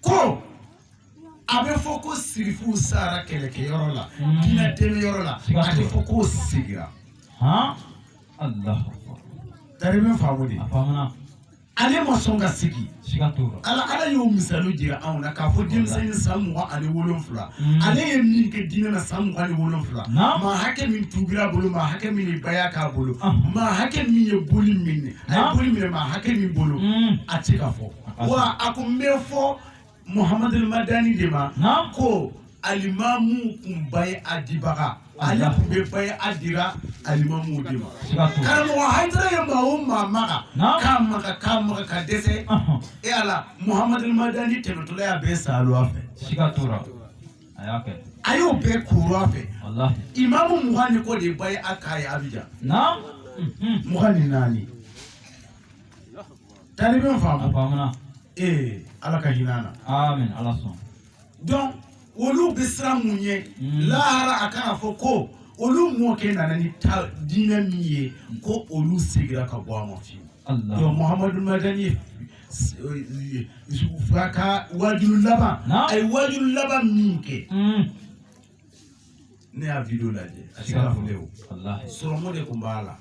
ko a bɛ fɔ ko sirifu sara kɛlɛkɛ yɔrɔ la hmm. diinɛ dɛmɛ yɔrɔ la a tɛ fɔ ko sigira tari bɛ faamu de ale ma sɔn ka sigi ala ala y'o misali jira anw na k'a fɔ denmisɛnnin san mugan ani wolonfila hmm. ale ye min kɛ diinɛ na san mugan ni wolonfila maa hakɛ min tuubira a bolo maa hakɛ min ye baya k'a bolo ah. maa hakɛ min ye boli minɛ a ye boli minɛ maa hakɛ min bolo hmm. a tɛ ka fɔ wa a ko n bɛ fɔ Muhamadu Madani de ma ko alimamu tun bayea dibaga ale tun bɛ bayea dira alimamu de ma karamɔgɔ Hayidara ye maa o maa maga k'a maga k'a maga ka dɛsɛ e Ala Muhamadu Madani tɛmɛtɔla y'a bɛɛ salo a fɛ siga t'o la a y'a kɛ a y'o bɛɛ koro a fɛ walahi imamu mugan ni kɔ de bayea k'a ye Abijan mugan ni naani. Talibe faamu a faamuna ee ala ka hinɛ an na ala sɔn donc olu bɛ siran mun ye mm. lahara a kana fɔ ko olu mɔkɛ nana ni ta diinɛ min ye ko olu segira ka bɔ a ma fewu Muhamadu Madani a ka wajuli laban a ye wajuli laban min kɛ mm. ne y'a video lajɛ a ti kana fɔlen o sɔrɔmu de tun b'a la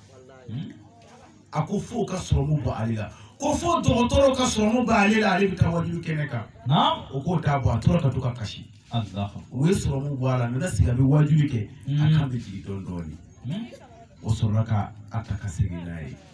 hmm? a ko fo ka sɔrɔmu bɔ ale la ko fo dɔgɔtɔrɔ ka sɔrɔmu bɔ ale la ale bɛ taa wajuli kɛnɛ kan o k'o t'a bɔ a tora ka to ka kasi u ye sɔrɔmu bɔ a la a nana sigi a bɛ wajuli kɛ a hmm. kan bɛ jigin dɔɔnin dɔɔnin hmm. o sɔrɔla ka a ta ka segin n'a ye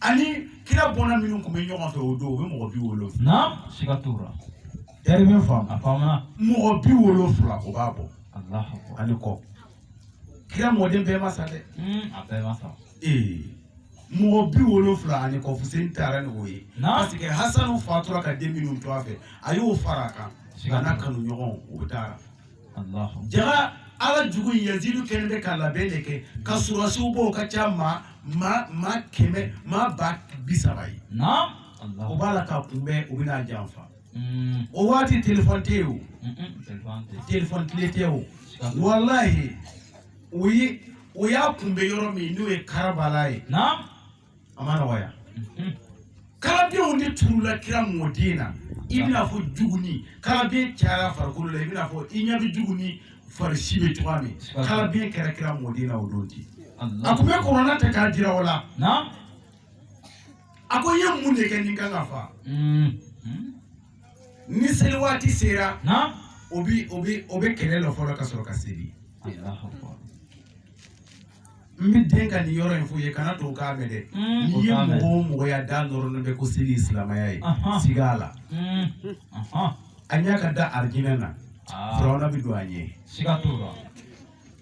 ani kira bɔnna minnu tun bɛ ɲɔgɔn fɛ o don o bɛ mɔgɔ bi wolonwula. naam siga t'o la. talibe faamu. a faamuna. mɔgɔ bi wolonwula o b'a bɔ. alahu akbar ani kɔ. kira mɔden bɛɛ ma sa dɛ. Hmm, a bɛɛ ma sa. ee mɔgɔ bi wolonwula ani kɔ fuseni taara ni o ye. naam parce que hasanu fatura ka den minnu to a fɛ a y'o fara a kan. a n'a kanu ɲɔgɔn o taara. jaga ala jugu in yazidu kɛlen bɛ ka labɛn de kɛ ka surasiw b'o ka ca maa maa maa kɛmɛ maa ba bi saba ye o b'a la k'a kunbɛn u bɛn'a janfa mm. o waati telefɔni tɛ yen o telefɔni tile tɛ o walahi o ye o y'a kunbɛn yɔrɔ min n'o ye karabala ye a ma nɔgɔya kalabiɲɛw de turula kira mɔden na i bɛna fɔ juguni kalabiɲɛ cayara farikolo la i bɛna fɔ i ɲɛ bɛ juguni farisi bɛ cogoya min kalabiɲɛ kɛra kira mɔden na o don ten a tun bɛ kuranɛ ta k'a jira o la a ko n ye mun de kɛ ne kan ka fa hmm. Hmm. ni seli waati sera o bɛ o bɛ o bɛ kɛlɛ lɔ fɔlɔ ka sɔrɔ ka seli n bɛ deli ka nin yɔrɔ in f'u ye kana to k'a mɛn dɛ n'i ye mɔgɔ o mɔgɔ y'a da nɔrɔlen bɛ ko seli silamɛya ye siga a la a ɲɛ ka da arijinɛ na firawuna bɛ don a ɲɛ siga t'o la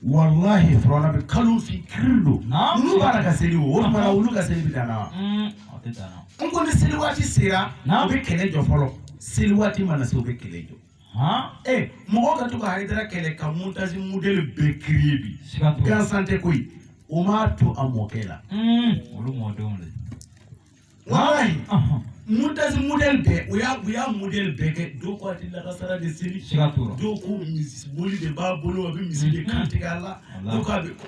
walahi firawuna bɛ kalo fin kiri don olu b'a la ka seli o o tuma na olu ka seli bɛ dan na wa n ko ni seli waati sera u bɛ kɛlɛ jɔ fɔlɔ seli waati mana se u bɛ kɛlɛ jɔ mɔgɔ ka to ka hayidara kɛlɛ ka montazi modɛli bɛɛ kiriye bi gansan tɛ koyi o m'a to a mɔkɛ la olu mɔdenw de walayi montazi modɛli bɛɛ o y'a o y'a modɛli bɛɛ kɛ dɔw ko a tɛ lakasara de seli dɔw ko misi boli de b'a bolo a bɛ misi de kantigɛ a la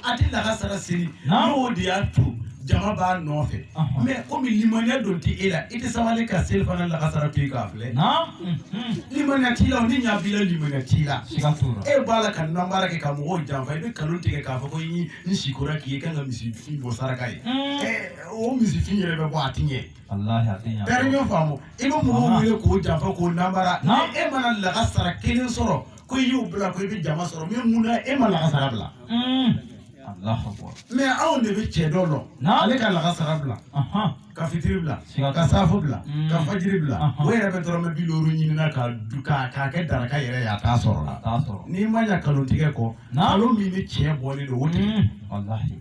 a tɛ lakasara seli n'o de y'a to jama b'a nɔfɛ mɛ kɔmi limaniya don tɛ e la i tɛ sabali ka seli fana lakasara to k'a filɛ limaniya t'i la n'i ɲa b'i la limaniya t'i la e b'a la ka nanbara kɛ ka mɔgɔw janfa i bɛ nkalon tigɛ k'a fɔ ko n n sikora k'i ye kan ka misifin bɔ saraka ye o misifin yɛrɛ bɛ bɔ a ti ɲɛ tari ɲɔ faamu i bɛ mɔgɔw wele k'o janfa k'o nanbara e mana lakasara kelen sɔrɔ ko i y'o bila ko i bɛ jama sɔrɔ mɛ mun na e ma lakasara bila mɛ anw de bɛ cɛ dɔ lɔn ale ka lakasara bila ka fitiri bila ka safo bila ka fajiri bila o yɛrɛ bɛ dɔrɔmɛ bi duuru ɲini na k'a kɛ daraka yɛrɛ ye a t'a sɔrɔ la n'i ma ɲa nkalon tigɛ kɔ nkalon min ni tiɲɛ bɔlen don o tigɛ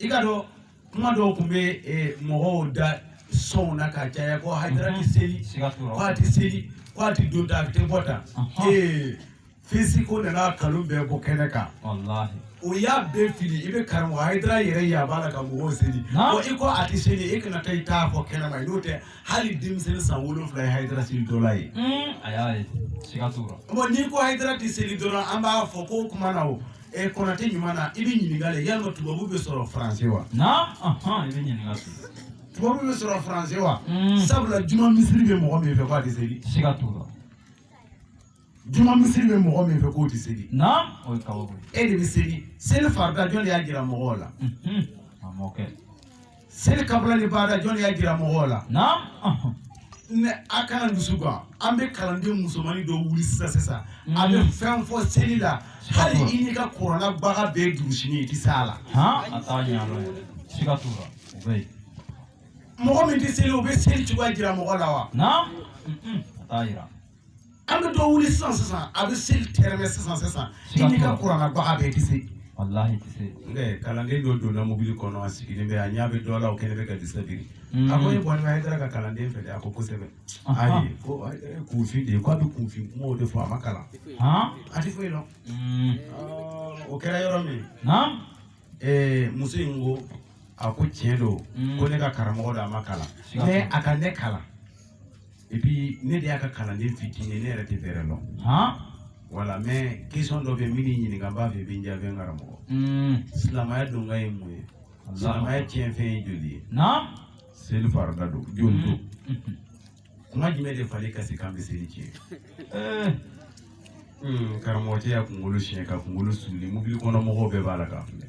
i ka dɔn kuma dɔw tun bɛ eh, mɔgɔw da sɔnw na ka caya ko hayidara tɛ seli siga t'o la. ko a tɛ seli ko a tɛ don ta a tɛ bɔ ta Ɔhɔn. ee fɛsibuku nana nkalon bɛɛ bɔ kɛnɛ kan walahi o y'a bɛɛ fili i bɛ karamɔgɔ hayidara yɛrɛ ye a b'a la ka mɔgɔw seli Naamu. ko i ko a tɛ seli e kana taa i ta fɔ kɛnɛ ma n'o tɛ hali denmisɛnnin san wolonwula ye hayidara selitɔla ye a y'a ye siga t'o la bɔn n'i ko hayidara tɛ seli dɔrɔn an b'a fɔ ko o kuma na o ɛ konatɛ ɲuman na i bɛ ɲininka de yalima tubabu bɛ sɔrɔ faransi wa. na i bɛ ɲininka de. tubabu bɛ sɔrɔ faransi wa. Hmm. sabula juma misiri bɛ mɔgɔ min fɛ k'a tɛ seli. siga t'o la. juma misiri bɛ mɔgɔ min fɛ k'o tɛ seli. na o ye kabako ye. e de bɛ seli seli farida jɔn de y'a jira mɔgɔw la. Hmm, hmm. a mɔkɛ. Seli kabila ni baada jɔn y'a jira mɔgɔw la ne a kana dusu gan an bɛ kalanden musomannin dɔ wuli sisan sisan mm. a bɛ fɛn fɔ seli la hali i n'i ka kɔrɔlabaga bɛ durusi i tɛ s'a la mɔgɔ min tɛ seli o bɛ seli cogoya jira mɔgɔ la wa an bɛ dɔ wuli sisan sisan a bɛ seli tɛrɛmɛ sisan sisan i n'i ka kɔrɔlabaga bɛɛ tɛ se walahi tɛ se ɛɛ kalanden dɔ donna mobili kɔnɔ a sigilen bɛ a ɲɛ bɛ dɔ la o kɛlen bɛ ka disa biri mm. a ko e bɔlen bɛ hayidara ka kalanden fɛ dɛ a ko kosɛbɛ ayi ko kunfin de ye ko a bɛ kunfin kumaw de fɔ a ma kalan a tɛ foyi dɔn mm. o kɛra yɔrɔ min ɛɛ muso in ko a ko tiɲɛ don mm. ko ne ka karamɔgɔ don a ma kalan mɛ a ka ne kalan et puis ne de y'a ka kalanden fitinin ye ne yɛrɛ tɛ bɛrɛ dɔn voilà mais question dɔ bɛ yen min y'i ɲininka n b'a fɛ i bɛ n jaabi n karamɔgɔ silamɛya donkan ye mun ye silamɛya tiɲɛfɛn ye joli ye seli farida don joli don kuma jumɛn de fali kasi kan bɛ seli tiɲɛ karamɔgɔ cɛ y'a kunkolo siɲɛ ka kunkolo suli mobili kɔnɔ mɔgɔw bɛɛ b'a la k'a filɛ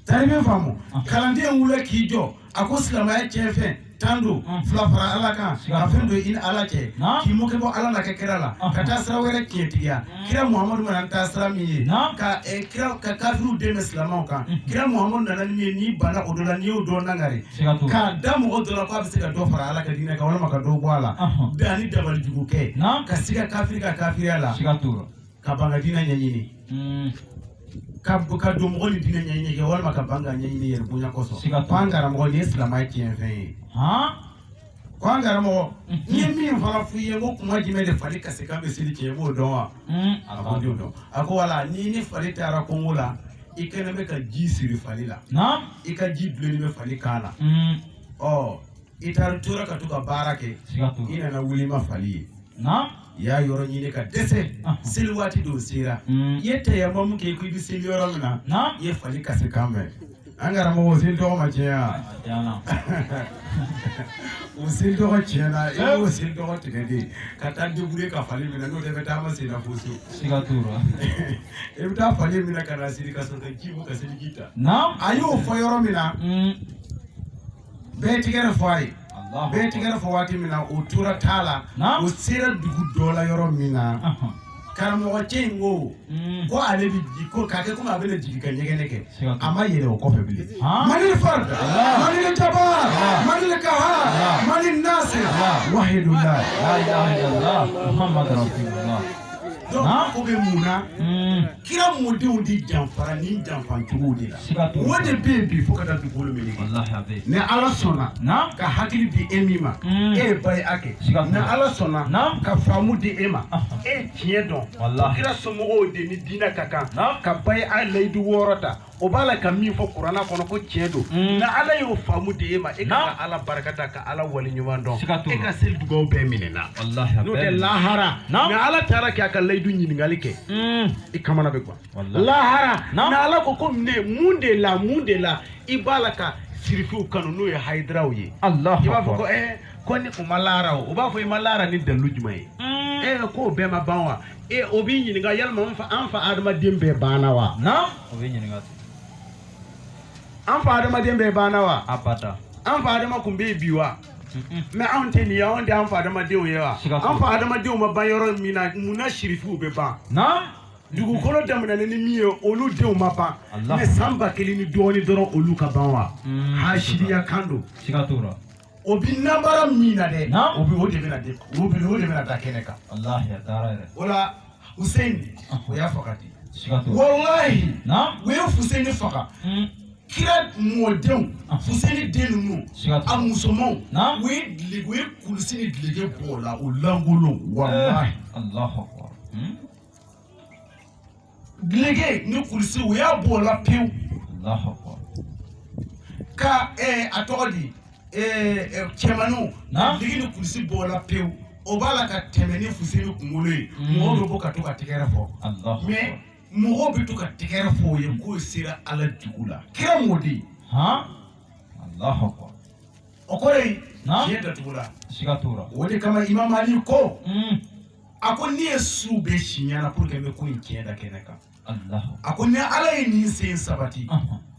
tar'i bɛ faamu ah. kalanden wulila k'i jɔ a ko silamɛya tiɲɛ fɛn tan don ah. fila fara ala kan ka fɛn don i ni ala cɛ k'i mɔkɛ bɔ ala n'a ka kira la ah. ka taa sira wɛrɛ tiɲɛtigiya mm. kira muhamadu ma na taa sira min ye ka eh, kira ka kafiriw dɛmɛ silamɛw kan mm. kira muhamadu nana ni min ye n'i banna o dɔ la n'i y'o dɔ nangari ka da mɔgɔ dɔ la k'a bɛ se ka dɔ fara ala ka diinɛ kan walima ka dɔ bɔ a la bɛɛ ani dabali jugu kɛ ka siga kafiri ka kafiriya la ka ban ka diinɛ ɲɛɲini mm. ka ka don mɔgɔ ni diinɛ ɲɛɲini cɛ walima ka ban k'a ɲɛɲini yɛrɛ bonya kosɔn ko an karamɔgɔ nin ye silamɛya tiɲɛ fɛn ye ko an karamɔgɔ mm-hmm. n ye min fana f'i ye ko kuma jumɛn de fali kasi kan bɛ seli tiɲɛ i b'o dɔn wa mm. a ko a t'o dɔn a ko voilà n'i ni fali taara kongo la i kɛlen bɛ ka ji siri fali la i ka ji bilenni bɛ fali kan na mm. ɔ I taara tora ka to ka baara kɛ i nana wuli i ma fali ye i y'a yɔrɔ ɲini ka dɛsɛ seli waati don sera i ye tayamamu kɛ k'i bɛ seli yɔrɔ min na i ye fali kasi kan mɛn an karamɔgɔ seli tɔ ma tiɲɛ wa o seli tɔ tiɲɛna i y'o seli tɔ tigɛ de ka taa duuru ka fali minɛ n'o bɛ taa ma senna fosi i bɛ taa fali minɛ k'a siri ka sɔrɔ ji ka seli ji ta a y'o fɔ yɔrɔ min na bɛɛ tɛgɛrɛ fɔ a ye bɛɛ tɛgɛrɛ fɔ waati min na o tora taa la o sera dugu dɔ la yɔrɔ min na karamɔgɔ cɛ in ko mm. ko ale bɛ jigin ko k'a kɛ komi a bɛna jigin ka ɲɛgɛnɛ kɛ a ma yɛlɛ o kɔfɛ bilen manil fard manil jabar manil kahar manil nasir wahidulah la ilaha ilalah muhamadu rasululah ko bɛ mun na mm. kira mɔdenw de janfara ni janfacogo de la o de bɛ yen bi fo ka taa dugukolo meleke ni ala sɔnna ka hakili di e min ma mm. e ye baya kɛ ni ala sɔnna ka faamu di e ma e ye tiɲɛ dɔn kira somɔgɔw de ni diinɛ ka kan ka baya layidu wɔɔrɔ ta o b'a la ka min fɔ kuranɛ kɔnɔ ko tiɲɛ don mm. ni ala y'o faamu di e ma e ka ala barika da ka ala wali ɲuman dɔn e ka seli dugaw bɛɛ minɛna n'o tɛ lahara ni ala taara k'a ka layidu ɲininkali kɛ mm. i kamana bɛ gwan lahara ni ala ko ko ne mun de la mun de la i b'a la ka sirifiw kanu n'o ye hayidaraw ye i b'a fɔ ko ɛɛ eh, ko ni o ma la a ra o b'a fɔ i ma la a ra ni dalilu jumɛn ye mm. e eh, k'o bɛɛ ma ban wa Ee o b'i ɲininka yala an fa adamaden bɛɛ banna wa o bɛ ɲininka an fa adamaden bɛɛ banna wa abada an fa adama tun bɛ bi wa mɛ anw tɛ nin ye anw tɛ an fa adamadenw ye wa an fa adamadenw ma ban yɔrɔ min na mun na sirifuw bɛ ban dugukolo daminɛna ni min ye olu denw ma ban mɛ san ba kelen ni dɔɔnin dɔrɔn olu ka ban wa hasidiya kan don o bɛ nanbara min na dɛ o bɛ o de bɛna de o bɛ o de bɛna da kɛnɛ kan o la Hussein o y'a faga di walayi u ye Hussein faga hmm. kira mɔdenw ah. Hussein den ninnu a musomanw u ye dile u ye kulusi ni dileke bɔ o la o lankolon walayi eh, hmm. Dileke ni kulusi u y'a bɔ o la pewu ka a tɔgɔ di cɛmanw dileke ni kulusi bɔ o la pewu o b'a la ka tɛmɛ ni Hussein kunkolo ye mɔgɔ bɛ ka to ka tɛgɛrɛ fɔ mais mɔgɔ bɛ to ka tɛgɛrɛ fɔ o ye k'o sera ala jugu la kira mɔden o ko de ye datugu la o de kama imamu ali ko a ko ne ye su bɛɛ si ɲɛna pour que n bɛ ko in tiɲɛ da kɛnɛ kan a ko ni ala ye ne sen sabati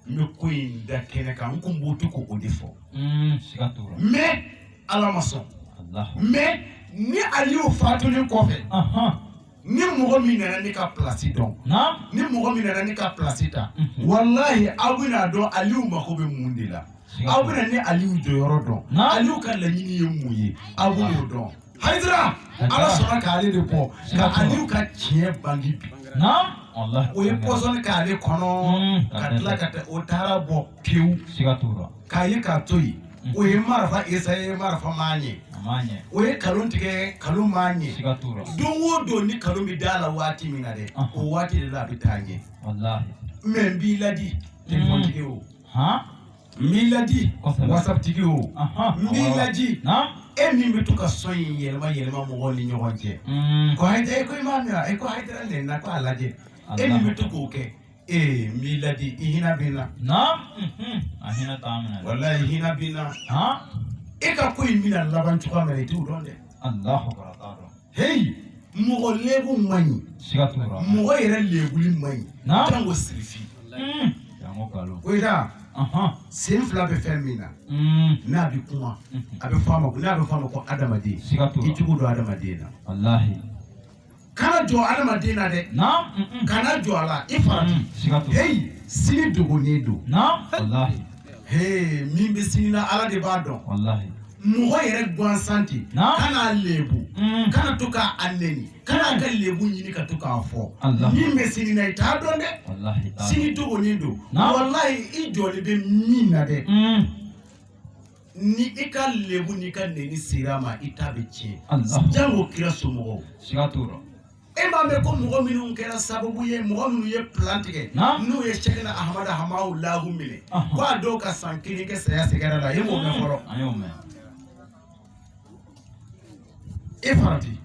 n bɛ ko in da kɛnɛ kan n kun bɛ to k'o de fɔ mm, mais ala ma sɔn mais ne aliw fatulen kɔfɛ ni mɔgɔ min nana ne ka place dɔn ni mɔgɔ min nana ne ka place ta mhm. walahi aw bɛna dɔn aliw mako bɛ mun de la aw bɛna ne aliw jɔyɔrɔ dɔn aliw ka laɲini ye mun ye aw bɛn'o dɔn Hayidara ala sɔnna k'ale de bɔ ka aliw ka tiɲɛ bange bi o ye pɔsɔni k'ale kɔnɔ ka tila ka o taara bɔ pewu k'a ye k'a to yen o ye marifa esaye marifa ma ɲɛ o ye kalon tigɛ kalon ma ɲɛ don o don ni kalon bɛ da a la waati min na dɛ o waati de la a bɛ taa ɲɛ mɛ n b'i ladi telefɔni tigi o n b'i ladi WhatsApp tigi o n b'i ladi e min bɛ to ka sɔn in yɛlɛma yɛlɛma mɔgɔw ni ɲɔgɔn cɛ mm. ko hayidara e ko i m'a mɛn wa e ko hayidara lɛn na ko a lajɛ e min bɛ to k'o kɛ ee n b'i ladi i hinɛ bɛ n na mm-hmm. a hinɛ t'a minɛ walayi i hinɛ bɛ n na e ka ko in bɛna laban cogoya min na i t'o dɔn dɛ. heyi mɔgɔ lebu man ɲi siga t'o la mɔgɔ yɛrɛ lebuli man ɲi Naam. janko sirifi Mm. janko kalo o ye taa Ahan. sen fila bɛ fɛn min na Mm. n'a bɛ kuma a bɛ fɔ a ma ko n'a bɛ fɔ a ma ko adamaden siga t'o la i cogo dɔn adamaden na walahi kana jɔ adamaden na dɛ naam Mm-mm. kana jɔ a la i farati Mm. siga t'o la heyi sini dogolen don naam walahi heyi min bɛ sini na ala de b'a dɔn walahi mɔgɔ yɛrɛ gansan ten kan'a lebu mm. kana to k'a a nɛni kan'a ka lebu ɲini ka to k'a fɔ min bɛ sini na i t'a dɔn dɛ sini dogonin don walayi i jɔlen bɛ min na dɛ mm. ni i ka lebu n'i ka nɛni sera a ma i ta bɛ tiɲɛ jango kira somɔgɔw e m'a mɛn ko mɔgɔ minnu kɛra sababu ye mɔgɔ minnu ye plan tigɛ n'u ye Sɛkina Ahamada Hamawulahu minɛ k' a dɔw ka san kelen kɛ saya sɛgɛngɛrɛ la e m'o mɛn fɔlɔ e farati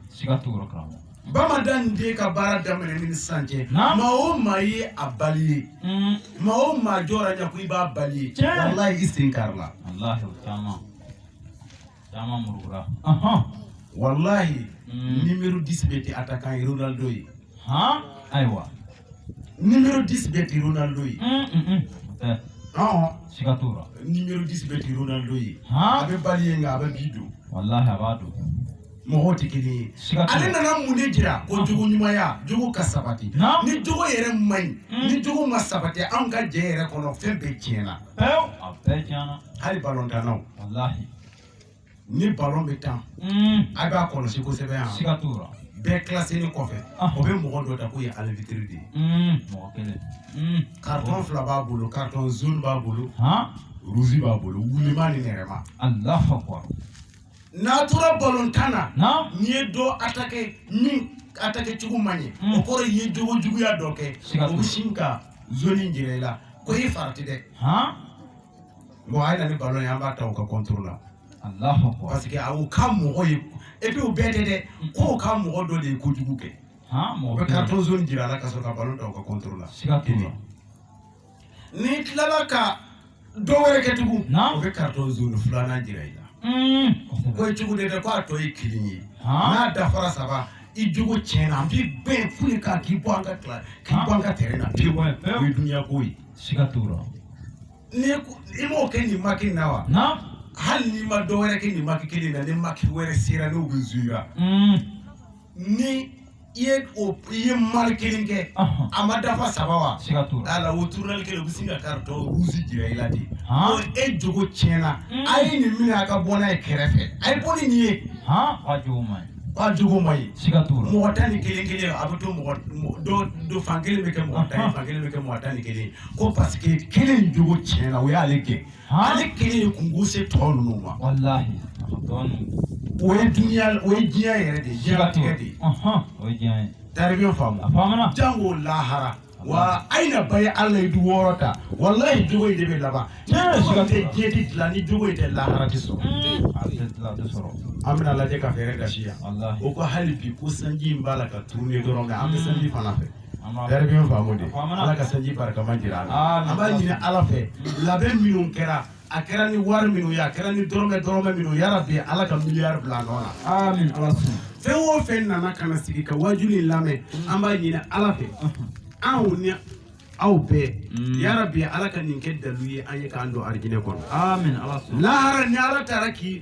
Bamadani den ka baara daminɛ ni sisan cɛ maa o maa ye a bali ye mm. maa o maa jɔra ɲɛ ko i b'a bali ye walahi i sen karila Caman murukura. Ɔhɔn. Walahi. Mm. Numéro 10 bɛɛ tɛ attaquant ye Ronaldo ye. Han ayiwa. Numéro 10 bɛɛ tɛ Ronaldo ye. Un un un. Ɛɛ. Ɔhɔn. Siga t'o la. Numéro 10 bɛɛ tɛ Ronaldo ye. Han. A bɛ bali ye nka a bɛ bi don. Walahi a b'a don. mɔgɔw tɛ kelen ye ale nana mun de jira ko jogo ɲumanya jogo ka sabati ni jogo yɛrɛ man ɲi ni jogo ma sabati anw ka jɛ yɛrɛ kɔnɔ fɛn bɛɛ tiɲɛna pewu a bɛɛ tiɲɛna hali balontannaw walahi ni balon bɛ tan a b'a kɔlɔsi kosɛbɛ yan siga t'o la bɛɛ kilaselen kɔfɛ o bɛ mɔgɔ dɔ ta k'o ye alibitiri de ye mɔgɔ kelen karitɔn fila b'a bolo karitɔn jaune b'a bolo ruzi b'a bolo wulima ni nɛrɛma alahu akubar n'a tora balontan na naam n'i ye dɔ attaquer min attaquer cogo man ɲi Mm. o kɔrɔ i ye jogo juguya dɔ kɛ Siga t'o la. o bɛ sin ka jaune jira i la ko i farati dɛ han bon a ye na ni ballon ye an b'a ta u ka contrôle la Allahu akbar parce que a y'u ka mɔgɔ ye et puis u bɛɛ tɛ dɛ k'o ka mɔgɔ dɔ de ye kojugu kɛ han u bɛ carton jaune jira a la ka sɔrɔ ka ballon ta u ka contrôle la siga t'o la n'i tilala ka dɔ wɛrɛ kɛ tugun o bɛ karitɔn jaune filanan jira i la mm. ko jugu de tɛ ko a tɔ ye kelen ye n'a dafara saba i jogo tiɲɛna an b'i renvoyer k'i bɔ an ka tɛrɛn na pewu o ye dunuya ko ye siga t'o la i m'o kɛ nin match na wa hali n'i ma dɔ wɛrɛ kɛ nin match kelen na ni match wɛrɛ sera n'o bɛ zuyera mm. ni i ye i ye mal kelen kɛ a ma dafa saba wa ala o turunali kelen u bɛ sin ka karitɔn ruzi jira i la de e jogo tiɲɛna mm. a ye nin mina ka bɔ n'a ye kɛrɛfɛ a ye bɔ ni nin ye a jogo man ɲi mɔgɔ tan ni kelen kelen a bɛ to mɔgɔ dɔ dɔ fan kelen bɛ kɛ mɔgɔ tan ye fan kelen bɛ kɛ mɔgɔ tan ni kelen ko paseke kelen jogo tiɲɛna o y'ale gɛn ale kelen ye kunko se tɔ ninnu ma walahi a ka dɔgɔ ninnu o ye duniya o ye diɲɛ yɛrɛ de ye diɲɛlatigɛ de ye ɔhɔn o ye diɲɛ ye taribiyo a faamu faamana jango lahara wa aina baye alla ye du wɔɔrɔ ta walayi jogo in de bɛ laban ni Tiɲɛ, jogo in tɛ siga diɲɛ ti dilan ni jogo in tɛ lahara ti sɔrɔ a tɛ tila a tɛ sɔrɔ an bɛna lajɛ ka fɛɛrɛ gasi yan walahi o ko hali bi ko sanji in b'a la ka tourner dɔrɔn nka an bɛ sanji fana fɛ Hɛrɛ bɛ faamu de ala ka sanji barikama jira an na an b'a ɲini ala fɛ labɛn minnu kɛra a kɛra ni wari minnu ye a kɛra ni dɔrɔmɛ dɔrɔmɛ minnu ye yarabi ala ka miliyari bila nɔ na amin ala sɔnna fɛn o fɛn nana ka na sigi ka waajuli in lamɛn an b'a ɲini ala fɛ anw ni aw bɛɛ yarabi ala ka nin kɛ dalu ye an ye k'an don arijinɛ kɔnɔ amin ala sɔnna lahara ni ala taara k'i